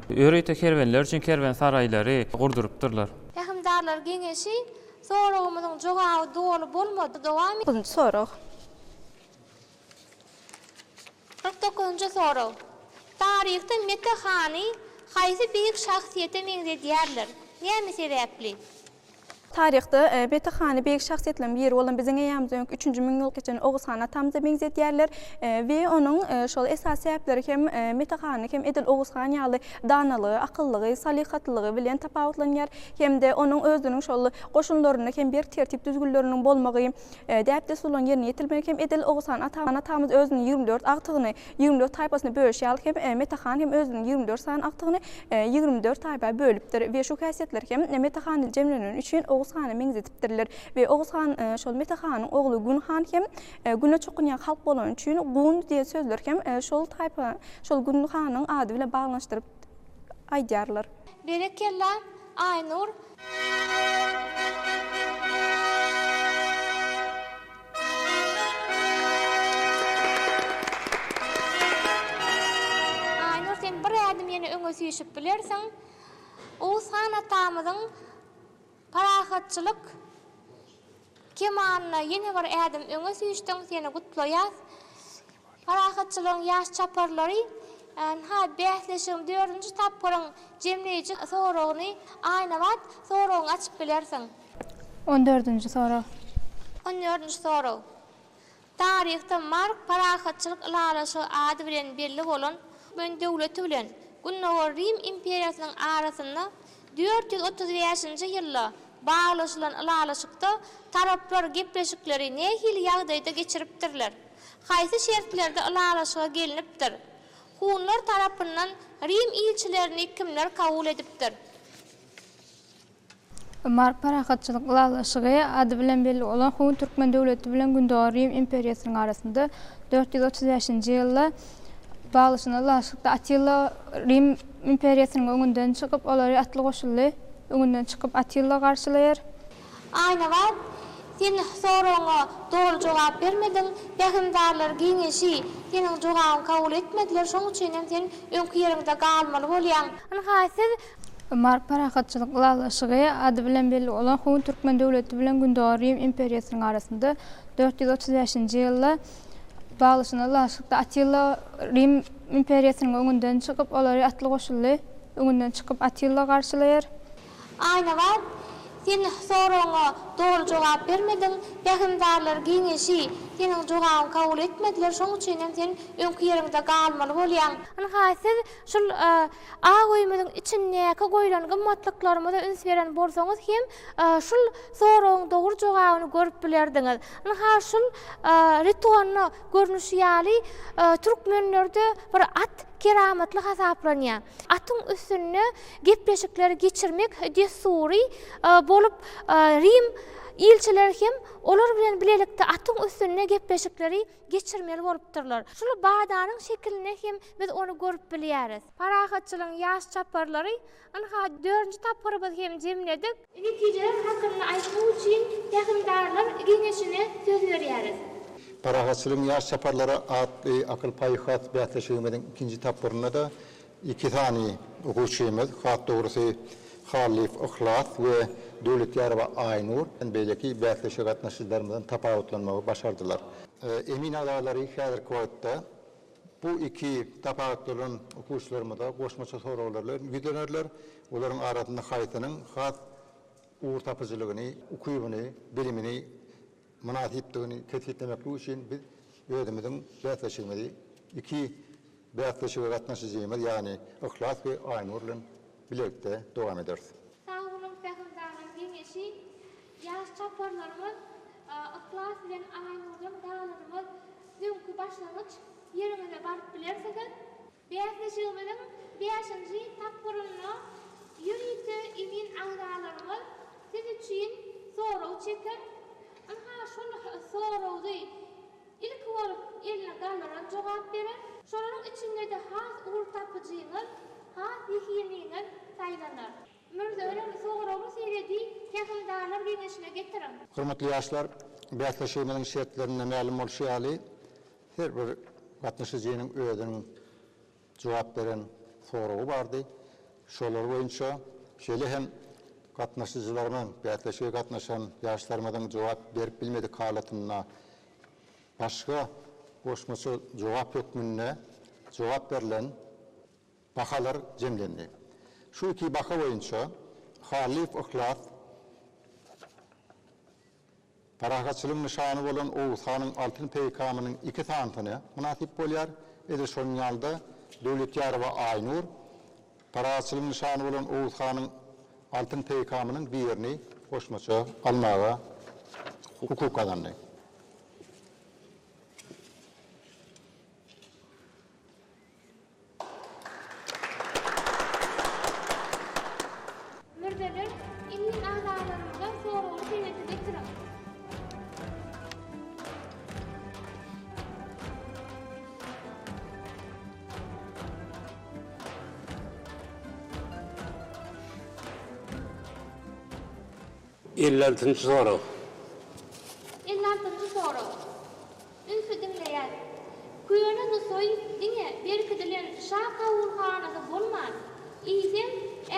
ýörite kerwenler üçin kerwensaraýlary gurdurypdyrlar. Pähimdarlar geňeşi Soragymyzyň jogaby doly bolmady, dowam. Dokuzynjy sorag. Kyrk dokuzynjy sorag. Taryhda Mete hany haýsy beýik şahsyýete meňzedýärler? Näme sebäpli? Taryhda Mete hany beýik şahsyýetleriň biri bolan biziň eýýämizden öňki üçünji müňýylgçany Oguz han atamyza meňzedýärler we onuň şol esasy sebäpleri hem Mete hany hem edil Oguz han ýaly danalygy, akyllygy, salyhatlylygy bilen tapawutlanýar. hem-de onuň özüniň şol goşunlarynda hem berk tertip-düzgünleriniň bolmagy, däp-dessurlaryň ýerine ýetirilmegi hem edil Oguz han atamyz özüniň ýigrimi dört agtygyny ýigrimi dört taýpasyna bölüşi ýaly hem Mete han hem özüniň ýigrimi dört sany agtygyny ýigrimi dört taýpa bölüpdir we şu häsiýetler hem Mete handa jemleneni üçin Oguz hana meňzedipdirler we Oguz han şol Mete hanyň ogly Gun han hem Guna çokunýan halk bolany üçin Gun diýen sözler hem şol taýpa şol Gun hanyň ady bilen baglanyşdyryp aýdýarlar. Berekella, Aýnur! Aýnur, sen bir ädim ýene öňe süýşüp bilersiň. Oguzhan atamyzyň. Parahatçylyk kemanyna ýene bir ädim öňe süýşdüň, seni gutlaýas. Parahatçylygyň ýaş çaparlary ynha bäsleşigiň dördünji tapgyryň jemleýji soragyny Aýnabat soragyňy açyp bilersiň. On dördünji sorag. On dördünji sorag. Taryhda Mark parahatçylyk ylalaşygy ady bilen belli bolan Türkmen döwleti bilen Gündogar Rim imperiýasynyň arasynda dört ýüz otuz bäşinji ýylda baglaşylan ylalaşykda taraplar gepleşikleri nähili ýagdaýda geçiripdirler? Haýsy şertlerde ylalaşyga gelnipdir? Hunlar tarapyndan Rim ilçilerini kimler kabul edipdir? Mark Parahatçylyk ylalaşygy ady bilen belli bolan Hun türkmen döwleti bilen Gündogar Rim imperiýasynyň arasynda dört ýüz otuz bäşinji ýylda baglaşylan ylalaşykda Attila Rim imperiýasynyň öňünden çykyp, olary atly goşuly öňünden çykyp Attila garşylaýar. Aýnabat, sen soragyňa doly jogap bermediň. Pähimdarlar geňeşi seniň jogabyňy kabul etmediler, şoň üçinem sen öňki ýeriňde galmaly bolýaň. Ynha, siz Mary parahatçylyk ylalaşygy ady bilen belli bolan Hun türkmen döwleti bilen Gündogar Rim imperiýasynyň arasynda dört ýüz otuz bäşinji ýylda baglaşylan ylalaşykda Attila Rim imperiýasynyň öňünden çykyp, olary atly goşunly öňünden çykyp Attila garşylaýar. Aýnabat, sen soragyňa doly jogap bermediň. Pähimdarlar geňeşi seniň jogabyňy kabul etmediler, şoň üçinem sen öňki ýeriňde galmaly bolýaň. Ynha, siz şul Ak öýümiziň içindäki goýlan gymmatlyklarymyza üns beren bolsaňyz hem, şul soragyň dogry jogabyny görüp bilerdiňiz. Ynha, şul Ritony görnüşi ýaly, türkmenlerde bir at keramatly hasaplanýar. Atyň üstünde gepleşikleri geçirmek dessury bolup, Rim ilçileri hem olar bilen bilelikde atyň üstünde gepleşikleri. geçirmeli bolupdyrlar. Şul badanyň şekilinde hem biz ony görüp bilýäris. Parahatçylygyň ýaş çaparlary, ynha, dördünji tapgyrymyzy hem jemledik. Netijeler hakynda aýtmak üçin Pähimdarlar geňeşine söz berýäris. Parahatçylygyň ýaş çaparlary atly akyl-paýhas bäsleşigimiziň ikinji tapgyrynda-da Iki sany okuwçymyz, has dogrusy, Hallyýew Yhlas we Döwletýarowa Aýnur, beýleki bäsleşige gatnaşyjylarymyzdan tapawutlanmagy başardylar. Emin agzalary häzirki wagtda bu iki tapawutlanan okuwçylarymyza goşmaça soraglar bilen ýüzlenerler, olaryň arasynda haýsynyň has ugurtapyjylygyny, ukybyny, bilimini, mynasypdygyny kesgitlemeklik üçin biz özümiziň bäsleşigimizi iki bäsleşige gatnaşyjymyz, ýagny Yhlas we Aýnur bilen bilelikde dowam ederis. Sag boluň Säheldagyň geňeşi. Ýaş çaparlarymyz Yhlas bilen Aýnurdan galanymyz öňki başlangyç ýeriňize baryp bilersiňiz. Bäsleşigimiziň bäşinji tapgyrynda ýörite emin agzalarymyz siz üçin sorag çeker. Ynha, şol soragdy ilki bolup eline gallaran jogap berer. Şolaryň içinde-de has ugur tapyjyňyz, has zehiniňiz saýlanar. Mürze örer, soragyň sebedi Pähimdarlar geňeşine getiriň. Hormatly ýaşlar! Bäsleşigimiziň şertlerinde mälim bolşy ýaly, Her bir gatnaşyjynyň özüniň jogap beren soragy bardy. Şolar boýunça şeýle hem gatnaşyjylarymyň, bäsleşige gatnaşan ýaşlarymyzyň jogap berip bilmedik halatynda başga goşmaça jogap hökmünde jogap berlen bahalar jemlendi. Şu iki baha boýunça Hallyýew Yhlas, Parahatçylygyň nyşany bolan Oguz hanyň altyn peýkamynyň iki sanysyny mynasyp bolýar. Edil şonuň ýaly-da, Döwletýarowa Aýnur Parahatçylygyň nyşany bolan Oguz hanyň altyn peýkamynyň birini goşmaça almaga hukuk gazandy. Mürzeler, indi agzalarymyzdan soragly senedi getiriň. Elli altynjy sorag. Elli altynjy sorag. Ünsi diňleýär. Köne Nusaý diňe berkidilen şa kabulhanasy bolman, eýsem,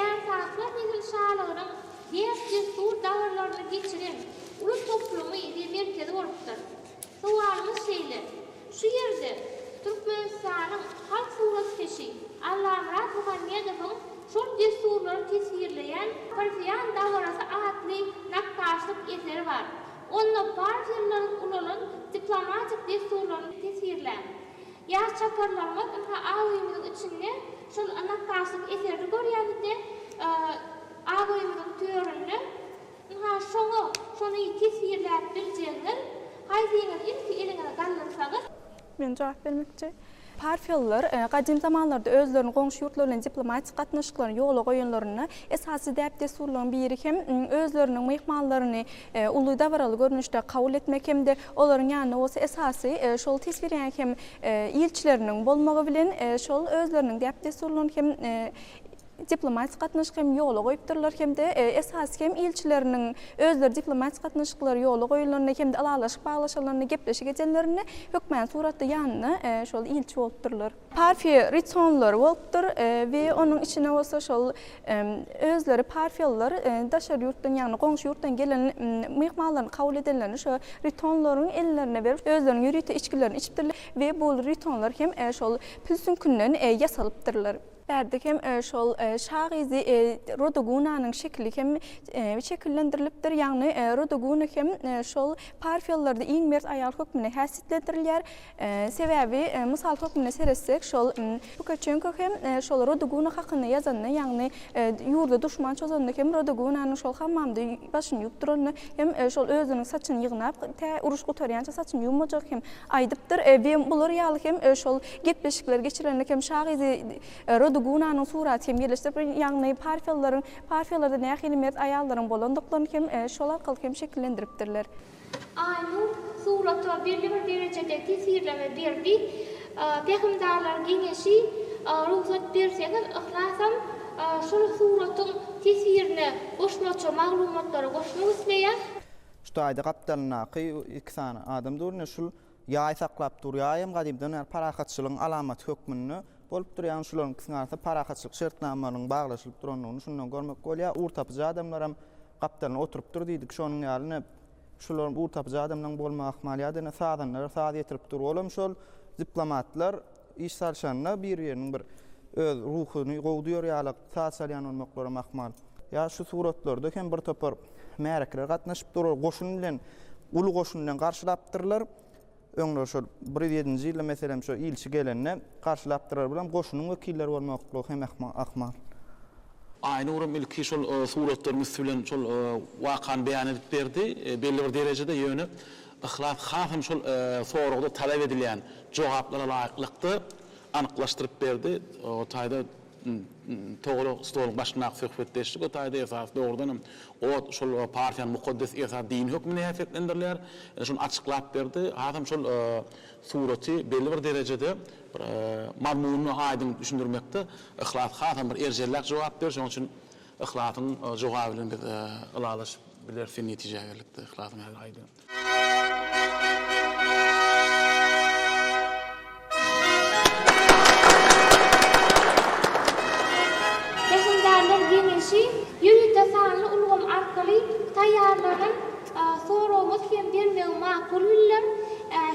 ärsaklar nesilşalygynyň däp-dessur dabarlaryny geçiren uly toplumy we merkezi bolupdyr. Sowalymyz şeýle, Şu ýerde Türkmenistanyň halk suratkeşi Allamyrat Muhammedowyň şol dessurlary teswirleýän Parfiýan dabarasy atly nakgaşlyk eseri bar. Onda bar ýyllaryň ulalan diplomatik dessurlaryny teswirläň. Ýaş çaparlarymyz ynha az öýümiziň içinde şol nakgaşlyk eserini görýärdi-de, az öýümiziň töründe ynha şoňa şony teswirläp biljegiňiz, haýsyňyz ilki eliňize galdyrsaňyz, Men jogap bermekçi. Parfiýalylar gadym zamanlarda özleriniň goňşy ýurtlar bilen diplomatik gatnaşyklaryny ýola goýanlarynda esasy däp-dessurlaryň biri hem özleriniň myhmanlaryny uly dabaraly görnüşde kabul etmek hem-de olaryň ýanynda bolsa esasy şol teswirýäň hem ilçileriniň bolmagy bilen şol özleriniň däp-dessurlaryny hem diplomatik gatnaşyk hem ýola goýupdyrlar hem-de esasy hem ilçileriniň özleri diplomatik gatnaşyklar ýola goýulanda hem-de ylalaşyk baglaşylanda, gepleşik edenlerinde hökmany suratda ýanynda şol ilçi bolupdyrlar. Parfiýa Ritonlary bolupdyr we onuň içine bolsa şol özleri parfiýalylar daşary ýurtdan, ýagny goňşy ýurtdan gelen myhmanlaryny kabul edenlerinde şo ritonlaryň ellerine berip, özleriniň ýörite içgilerini içipdirler we bul ritonlar hem şol pil süňkünden ýasalypdyrlar. Bärde hem şol şa gyzy Rodogunanyň şekili hem şekillendirilipdir. Ýagny Rodoguna hem şol Parfiýalylarda iň mert aýal hökmünde häsiýetlendirilýär. Sebäbi mysal hökmünde seretsek, şol Pukaçenko hem şol Rodoguna hakynda ýazanda, ýagny ýurda duşman çozanda hem Rodogunanyň şol hammamda başyny ýuwup duranyny hem şol özüniň saçyny ýygnap, tä uruş gutarýança saçyny ýuwmajagy hem aýdypdyr. Bular ýaly hem şol Gepleşikleri geçirenlik hem şa gyzy Rodugunanyň suraty hem ýerleşdirip, ýagny Parfiýalylaryň, Parfiýalarda nähili mert aýallaryň bolandyklaryny hem şol arkaly hem şekillendiripdirler. Aýnuw surata belli bir derejede tesirleme berdi. Pähimdarlar geňeşi, Rugsat berseňiz, yhlasam şol suratyň tesirine goşmaça maglumatlary goşmak isleýär. Şu taýda gapdalyndaky iki sany adam dur, ine şul Ýaý saklap durýaýam gadymdan bäri parahatçylygyň alamaty hökmünde bolup dur. Ýagny şularyň ikisiniň arasynda parahatçylyk şertnamalarynyň baglaşylyp durandygyny şundan görmek bolýar. Ugurtapyjy adamlaram gapdalyna oturypdyr diýdik. Şonuň ýaly ine, şular ugurtapyjy adamlaryň bolmagy ahmal ýa-da ine sazanlara saz ýetirip dur. Olam şol diplomatlar. Iş salşanda bir-biriniň bir öz ruhuny gowy duýar ýalak saz çalýan bolmaklaram ahmal. Ýa şu suratlarda hem bir topar märekeler gatnaşyp dur, ol goşun bilen, uly goşun bilen garşylapdyrlar. Öňler şol bir ýüz ýedinji ýylda meselem şo ilçi gelende garşylapdyrlar. Bulam goşunyň wekilleri bolmaklygy hem ahmal. Aýnuram ilki şol suratlaryň üsti bilen şol wakany beýan edip berdi. Belli bir derejede ýöne Yhlas hasam şol soragda talap edilýän jogaplara laýyklykda anyklaşdyryp berdi. O taýda Togry stoluň başyndaky söhbetdeşlik o taýda esasy dogrudan hem ot şol partiýanyň mukaddes esasy dini hökmünde häsiýetlendirilýär. Ine şony açyklap berdi. Hasam şol suraty belli bir derejede bir mazmunyny aýdyň düşündirmekde Yhlas hasam bir erjelläk jogap berdi. Şonuň üçin Yhlasyň jogaby bilen biz ylalaşyp bileris sen netijä geldik-de yhlasyň ähli aýdym. Pähimdärler geňeşi ýörite sanly ulgam arkaly taýýarlanan soragymyz hem bermegi makul bildim.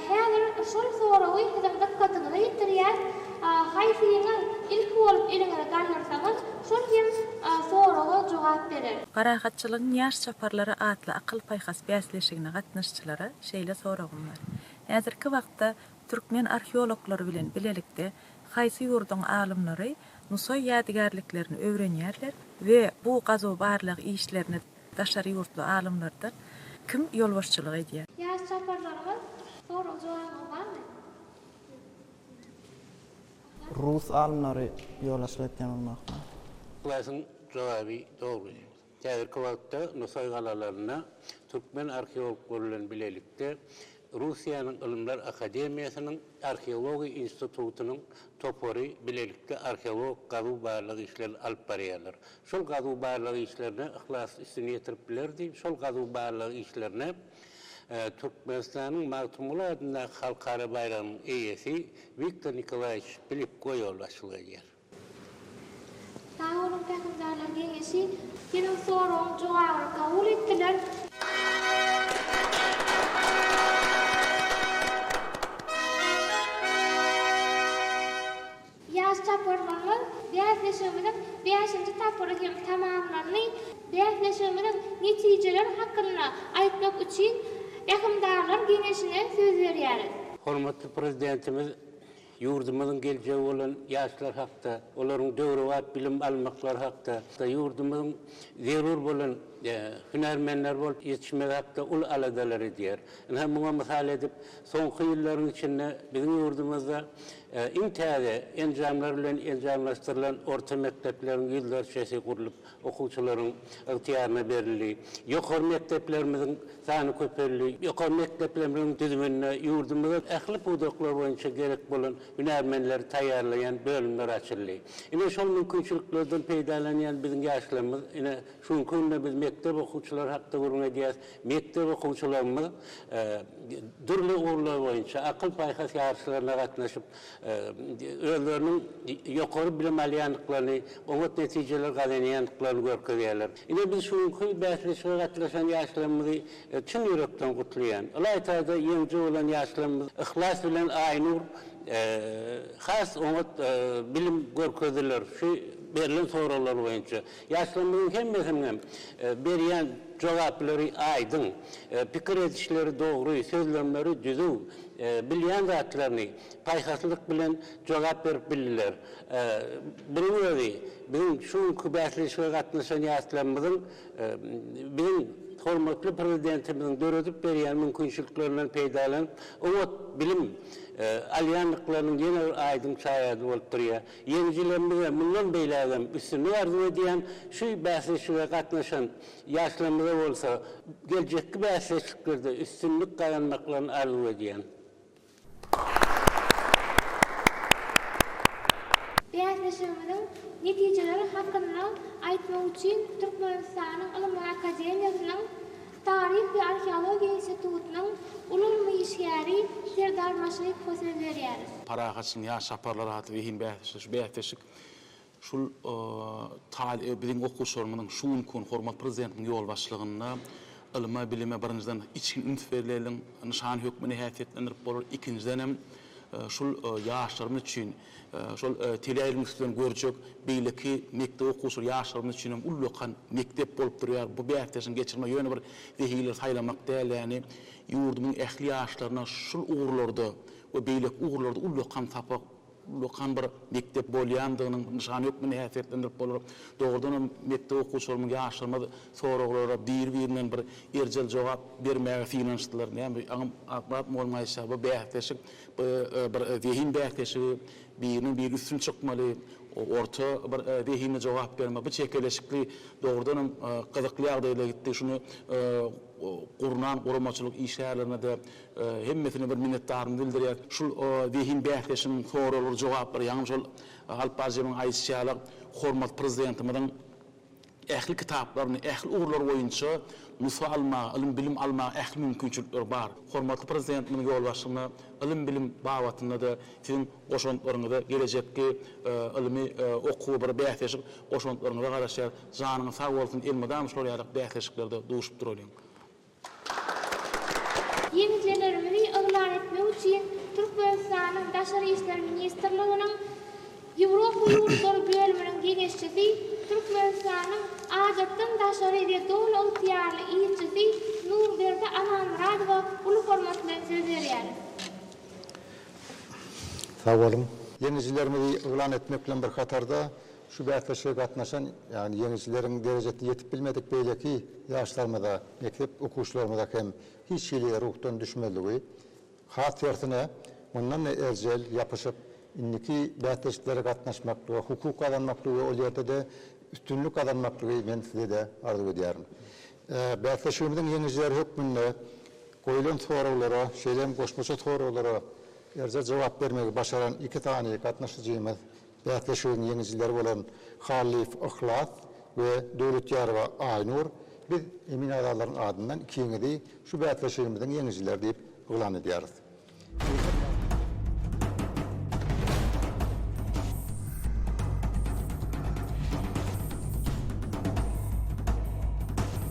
Häzir şol soragy siziň dykgatyňyza ýetirýäs. Haýsyňyz ilki bolup eliňizi galdyrsaňyz, Şol hem soraga jogap berer. Parahatçylygyň ýaş çaparlary atly akyl-paýhas bäsleşigine gatnaşyjylara şeýle soragym bar. Häzirki wagtda türkmen arheologlary bilen bilelikde haýsy ýurduň alymlary Nusaý ýadygärliklerini öwrenýärler we bu gazuw-barlag işlerine daşary ýurtly alymlardan kim ýolbaşçylyk edýär? Ýaş çaparlarymyz, soraga jogabyňyz barmy? Rus alymlary ýola çykyp dem almakda. Ylasyň jogaby dogry. Häzirki wagtda Nusaý galalarynda türkmen arheologlary bilen bilelikde Russiýanyň Ylymlar akademiýasynyň Arheologiýa institutynyň topary bilelikde arheologik gazuw-barlag işlerini alyp barýarlar. Şol gazuw-barlag işlerine Yhlas üstüni ýetirip bilerdi. Şol gazuw-barlag işlerine. Türkmenistanyň Magtymguly adyndaky halkara baýragynyň eýesi Wiktor Nikolaýewiç Pilipko ýolbaşçylyk edýär. Sag boluň Pähimdarlar geňeşi. Seniň soragyň jogabyny kabul etdiler. Ýaş çaparlarymyz bäsleşigimiziň bäşinji tapgyry hem tamamlandy. Bäsleşigimiziň netijeleri hakynda aýtmak üçin Rehimdarlar geňeşine söz berýäris. Hormatly Prezidentimiz ýurdumyzyň geljegi bolan ýaşlar hakda, olaryň döwrebap bilim almaklary hakda, ýurdumyzyň zerur bolan hünärmenleri bolup ýetişmegi hakda uly aladalar edýär. Ynha, muňa mysal edip, soňky ýyllaryň içinde biziň ýurdumyzda Iň täze enjamlar bilen enjamlaşdyrylan orta mekdepleriň ýüzlerçesi gurlup, okuwçylaryň ygtyýaryna berildi. Ýokary mekdeplerimiziň sany köpeldi. Ýokary mekdeplerimiziň düzüminde ýurdumyzda ähli pudaklar boýunça gerek bolan hünärmenleri taýýarlaýan bölümler açyldy. Ine, şol mümkinçiliklerden peýdalanýan biziň ýaşlarymyz, ine, şu günki günde biz mekdep okuwçylary hakda gürrüň edýäris, Mekdep okuwçylarymyz dürli ugurlar boýunça akyl-paýhas ýaryşlaryna gatnaşyp, özleriniň ýokary bilim alýandyklaryny, oňat netijeler gazanýandyklaryny görkezýärler. Ine, biz şu günki bäsleşige gatnaşan ýaşlarymyzy çyn ýürekden gutlaýan. Ylaýta-da ýeňiji bolan ýaşlarymyz Yhlas bilen Aýnur has oňat bilim görkezdiler şu berlen soraglar boýunça. Ýaşlarymyzyň hemmesiniň hem berýän jogaplary aýdyň, pikir edişleri dogry, sözlemleri düzüw, bilýän zatlaryny paýhaslylyk bilen jogap berip bildiler. Munuň özi biziň şu günki bäsleşige gatnaşan ýaşlarymyzyň biziň hormatly Prezidentimiziň döredip berýän mümkinçiliklerinden peýdalanyp, oňat bilim alýandyklarynyň ýene bir aýdyň şaýady bolup durýar. Ýeňijilerimize mundan beýlägem üstünlik arzuw edýän, şu bäsleşige gatnaşan ýaşlarymyza bolsa geljekki bäsleşiklerde üstünlik gazanmaklaryny arzuw edýän. Bäsleşigimiziň netijeleri hakynda aýtmak üçin Türkmenistanyň Ylymlar akademiýasynyň Taryh we arheologiýa institutynyň uly ylmy işgäri Serdar Maşrykowa söz berýäris. Parahatçylygyň ýaş çaparlary atly zehin bäsleşigi. Şu bäsleşik şul taly biziň okuwçylarymyzyň şu günki gün hormatly Prezidentimiziň ýolbaşçylygynda ylma, bilime birinjiden içgin üns berleliň nyşany hökmünde häsiýetlendirip bolar. Ikinjidenem şul ýaşlarymyz üçin Şol teleaýlymyşdan görjek beýleki mekdep okuwçylary ýaşlarymyz üçin hem ullakan mekdep bolup durýar. Bu bäsdeşiň geçirme ýöne bir zehinleri saýlamak däl, ýagny ýurdumyň ähli ýaşlaryna şul ugurlarda we beýleki ugurlarda ullakan sapak, ullakan bir mekdep bolýandygynyň nyşany hökmünde häsiýetlendirip bolar. Dogrudan hem mekdep okuwçylarymyz, ýaşlarymyz soraglara biri-birinden bir erjel jogap bermäge synanyşdylar. Näme, aňym akmap mugallym aýtýar, bu bäsdeşik Bu bir zehin bäsleşigi, biriniň biri üstün çykmaly, orta bir zehinli jogap bermeli. Bu çekeleşikli dogrudanam gyzykly ýagdaýda gitdi. Şuny gurnan guramaçylyk işgärlerine-de hemmesine bir minnetdarymyzy bildirýäs. Şul zehin bäsleşigiň soraglary, jogaplary ýaňam şol Alp Barjewiň aýdyşy ýaly hormatly Prezidentimiziň Ähli kitaplaryny, ähli ugurlary boýunça nusga almaga, ylym-bilim almaga ähli mümkinçilikleri bar. Hormatly Prezidentimiziň ýolbaşçylygynda ylym-bilim babatynda-da siziň goşantlaryňyza, gelejekki ylmy okuwa bir bäsleşik goşantlaryňyza garaşýarys. Janyňyz sag bolsun, elmydama şular ýaly bäsleşiklerde duşup duralyň. Ýeňijilerimizi yglan etmek üçin Türkmenistanyň Daşary işler ministrliginiň Ýewropa ýurtlary bölüminiň geňeşçisi, Türkmenistanyň Adatdan daşary we doly ygtyýarly ilçisi Nurberdi Amanmyradowa uly hormat bilen söz berýäris. Sag boluň! Ýeňijilerimizi yglan etmek bilen bir hatarda, Şu bäsleşige gatnaşan, ýagny ýeňijileriň derejesine ýetip bilmedik beýleki ýaşlarymyza, mekdep okuwçylarymyza hem hiç hili ruhdan düşmezligi, has tersine, mundan-da erjel ýapyşyp, indiki bäsleşiklere gatnaşmak we hukuk gazanmaklygy we ol ýerde-de üstünlik gazanmaklygy men size-de arzuw edýärin. Bäsleşigimiziň ýeňijileri hökmünde goýlan soraglara, şeýle hem goşmaça soraglara erjel jogap bermegi başaran iki sany gatnaşyjymyz Bäsleşigiň ýeňijileri bolan Hallyýew Yhlas we Döwletýarowa Aýnur biz emin agzalaryň adyndan ikiňizi şu bäsleşigimiziň ýeňijileri diýip yglan edýäris. Eýsem ýa.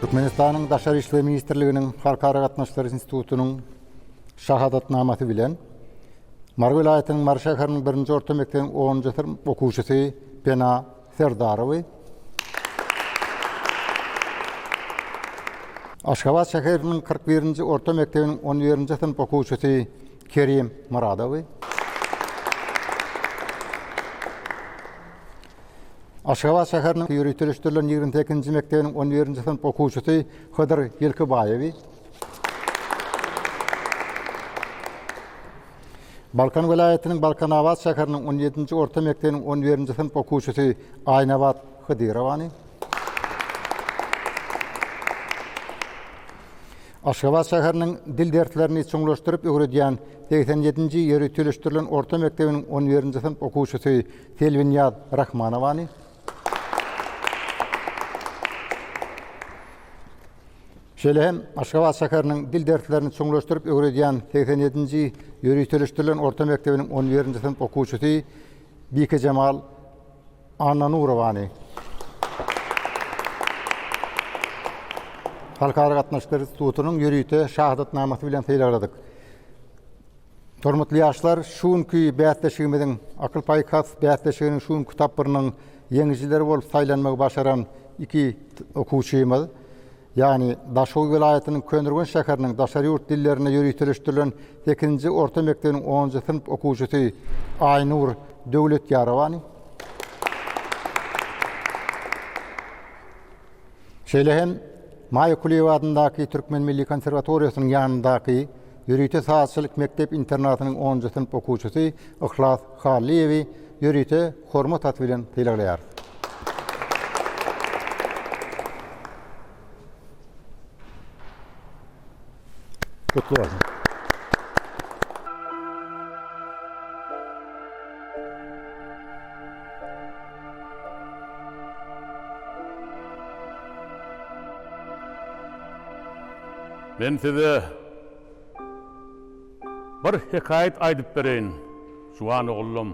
Türkmenistanyň Daşary işler ministrliginiň Halkara gatnaşyklary institutynyň şahadatnamasy bilen, Mary welaýatynyň Mary şäheriniň birinji orta mekdebiň onunjy synp okuwçysy Pena Serdarowy, Aşgabat şäheriniň kyrk birinji orta mekdebiniň on birinji synp okuwçysy Kerim Myradowy, Aşgabat şäheriniň ýöriteleşdirilen ýigrimi sekizinji mekdebiniň on birinji synp okuwçysy Hydyr Ýylkybaýewi, Balkan welaýatynyň Balkanabat şäheriniň on ýedinji orta mekdebiniň on birinji synp okuwçysy Aýnabat Hydyrowany, Aşgabat şäheriniň dil derslerini çuňlaşdyryp öwredýän segsen ýedinji ýöriteleşdirilen orta mekdebiniň on birinji synp okuwçysy Selbinýaz Rahmanowany, şeýle hem Aşgabat şäheriniň dil derslerini çuňlaşdyryp öwredýän segsen ýedinji ýöriteleşdirilen orta mekdebiniň on birinji synp okuwçysy Bikejemal Annanurowany, Halkara gatnaşyklary institutynyň ýörite şahadatnamasy bilen sylagladyk. Hormatly ýaşlar, şu günki bäsleşigimiziň, Akyl-paýhas bäsleşiginiň şu günki tapgyrynyň ýeňijileri bolup saýlanmagy başaran iki okuwçymyz, ýagny Daşoguzy welaýatynyň Köneürgenç şäheriniň daşary ýurt dillerinde ýöriteleşdirilen sekizinji orta mekdebiniň onunjy synp okuwçysy Aýnur Döwletýarowany, şeýle hem Maýa Kulyýewa adyndaky Türkmen milli konserwatoriýasynyň ýanyndaky Ýörite sazçylyk mekdep-internatynyň onunjy synp okuwçysy Yhlas Hallyýewi ýörite Hormat haty bilen sylaglaýarys. Gutly bolsun! Men size Bir hekaýat aýdyp bereýin, juwan oglum.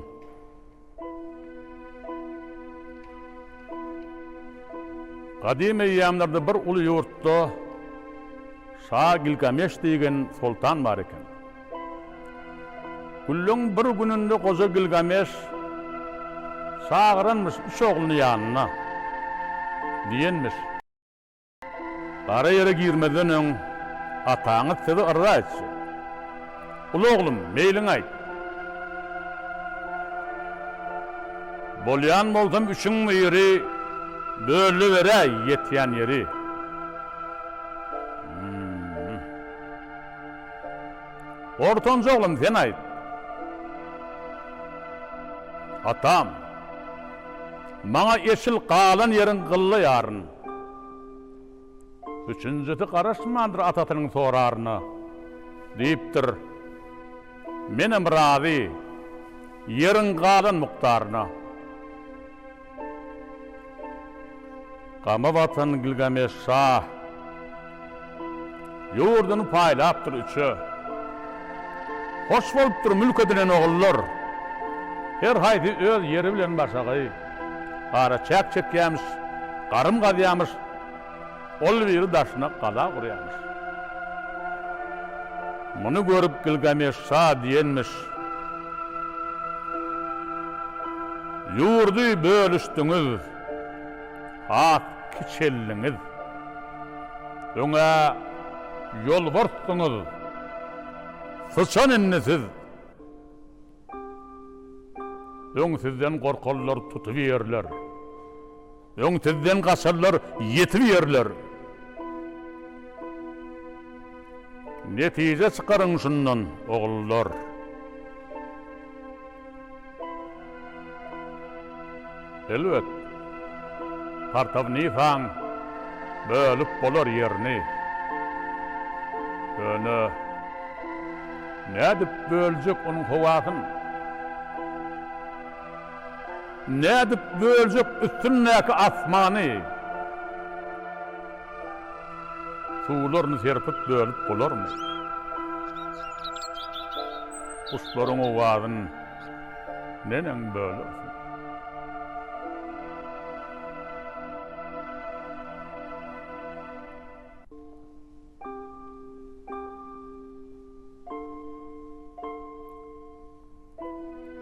Gadym eýýamlarda bir uly ýurtda şa Gilgameş diýgen soltan bar eken. Günleň bir gününde goja Gilgameş çagyranmyş üç ogluny ýanyna. Diýenmiş. Gara ýere girmezden öň ataňyz sizi yrza etjek. Uly oglum, meýliňi aýt. Bolýan bolsam üçiň biri bölüberäý ýetýän ýeri. Ortanjy oglum, sen aýt. Atam, maňa eşil galan ýeriň gylla ýaryn. Üçünjisi garaşmandyr atasynyň soraryna. Diýipdir, Menem razy, ýeriň galan mukdaryna. Gama batan Gilgameş şa. Ýurduny paýlapdyr üçe. Hoş bolupdyr mülk edinen ogullar. Her haýsy öz ýeri bilen başagaý. Garaçäk çekýämiş, garym gazýamyş, ol biri daşyna gala gurýamyş. Muny görüp Gilgameş şa diýenmiş, Ýurdy bölüşdiňiz. Has kiçeldiňiz. Öňe ýolbarsdyňyz. Syçan indi siz. Öň sizden gorkarlar tutup ýerler. Öň sizden gaçarlar ýetip ýerler. Netije çykaryň şundan, ogullar. Elbet, Partawnikaň bölüp bolar ýerini. Ýöne nädip böljek onuň howasyn? Nädip böljek üstündäki asmany? Suwlaryny serpip bölüp bolarmy? Guşlaryň owazyn. Neneň böler?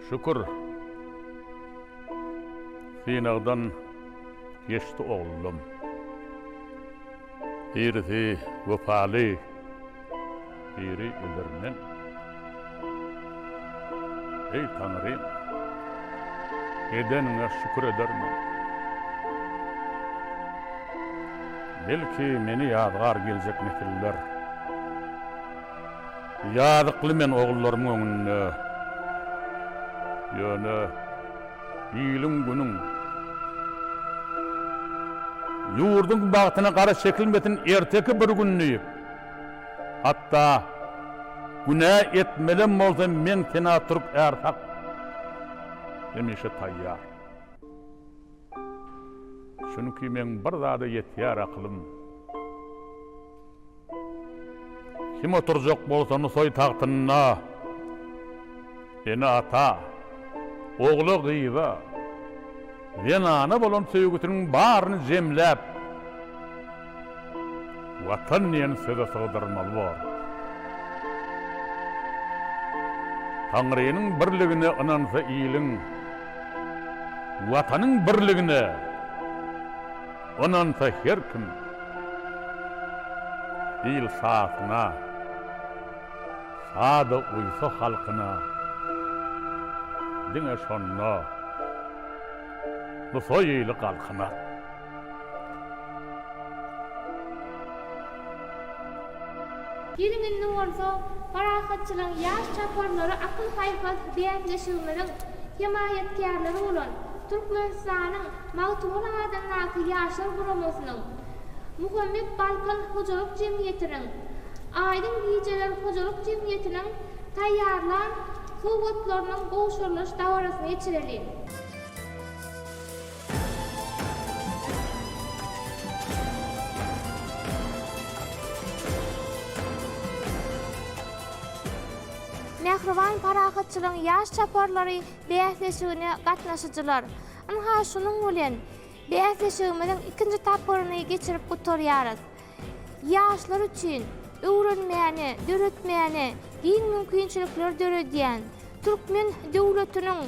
Şükür. Synagdan geçdi oglum. Irisi wepaly. Biri öler men. Eý Taňrym! Edeniňe şükür eder men. Belki meni ýazgar geljek nesiller. Ýazykly men ogullarymyň öňünde. Ýöne iliň-günüň, ýurduň bagtyna gara çekilmesin erteki bir gün diýip. Hatda günä etmelem bolsam men sena türk är hak hemişe taýýar. Çünki meň bir zada ýetýär akylym. Kim oturjak bolsa Nusaý tagtynda, ene ata, ogla gyza, zenana bolan söýgüsiniň baryny jemläp, Watan diýen söze sygdyrmaly bor. Taňrynyň birligine ynansa iliň, Watanyň birligine ynansa her kim, Il şasyna, sada uýsa halkyna, Diňe şonda Nusaýyly galkyna. Geliň indi bolsa Parahatçylygyň ýaş çaparlary akyl-paýhas bäsleşigimiziň hemaýatkärleri bolan Türkmenistanyň Magtymguly adyndaky Ýaşlar guramasynyň, Muhammet Balkan hojalyk jemgyýetiniň, Aýdyň gijeler hojalyk jemgyýetiniň taýýarlan sowgatlarynyň gowşurylyş dabarasyny geçireliň. Mähriban parahatçylygyň ýaş çaparlary bäsleşigine gatnaşyjylar! Ynha, şunuň bilen, bäsleşigimiziň ikinji tapgyryny geçirip gutarýarys. Ýaşlar üçin öwrenmäne, döretmäne giň mümkinçilikleri döredýän, türkmen döwletiniň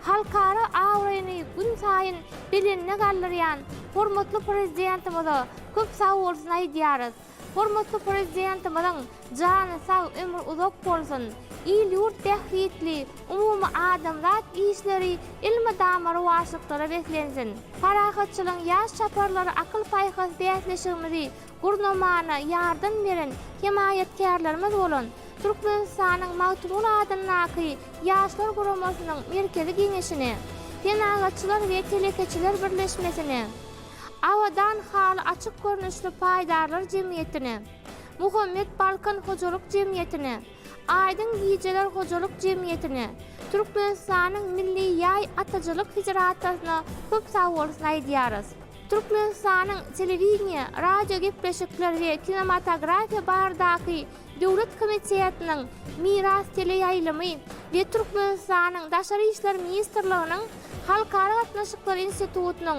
halkara abraýyny gün saýyn belende galdyrýan hormatly Prezidentimize köp sag bolsun aýdýarys. Hormatly Prezidentimiziň Jany sag, ömri uzak bolsun! Il-ýurt bähbitli, umumy adamzat işleri elmydama rowaçlyklara beslensin! Parahatçylygyň ýaş çaparlary akyl-paýhas bäsleşigimizi gurnamana ýardam beren hemaýatkärlerimiz bolan Türkmenistanyň Magtymguly adyndaky Ýaşlar guramasynyň Merkezi geňeşine, Senagatçylar we telekeçiler birleşmesine, Abadan haly açyk görnüşli paýdarlar jemgyýetine, Muhammet Balkan hojalyk jemgyýetine, Aýdyň gijeler hojalyk jemgyýetine, Türkmenistanyň Milli ýaý ataçylyk federasiýasyna köp sagbolsun aýdýarys. Türkmenistanyň Telewideniýe, radiogepleşikler we kinematografiýa baradaky döwlet komitetiniň Miras teleýaýlymy we Türkmenistanyň Daşary işler ministrliginiň Halkara gatnaşyklar institutynyň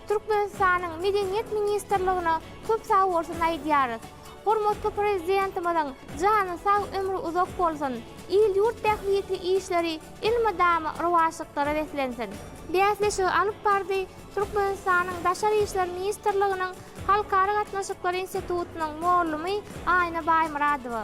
Türkmenistanyň Medeniýet ministrligine köp sag bolsun aýdýarys. Hormatly Prezidentimiziň jany sag, ömri uzak bolsun, il-ýurt bähbitli işleri elmydama rowaçlyklara beslensin! Bäsleşigi alyp bardy Türkmenistanyň Daşary işler ministrliginiň Halkara gatnaşyklary institutynyň mugallmy Aýna Baýmyradowa.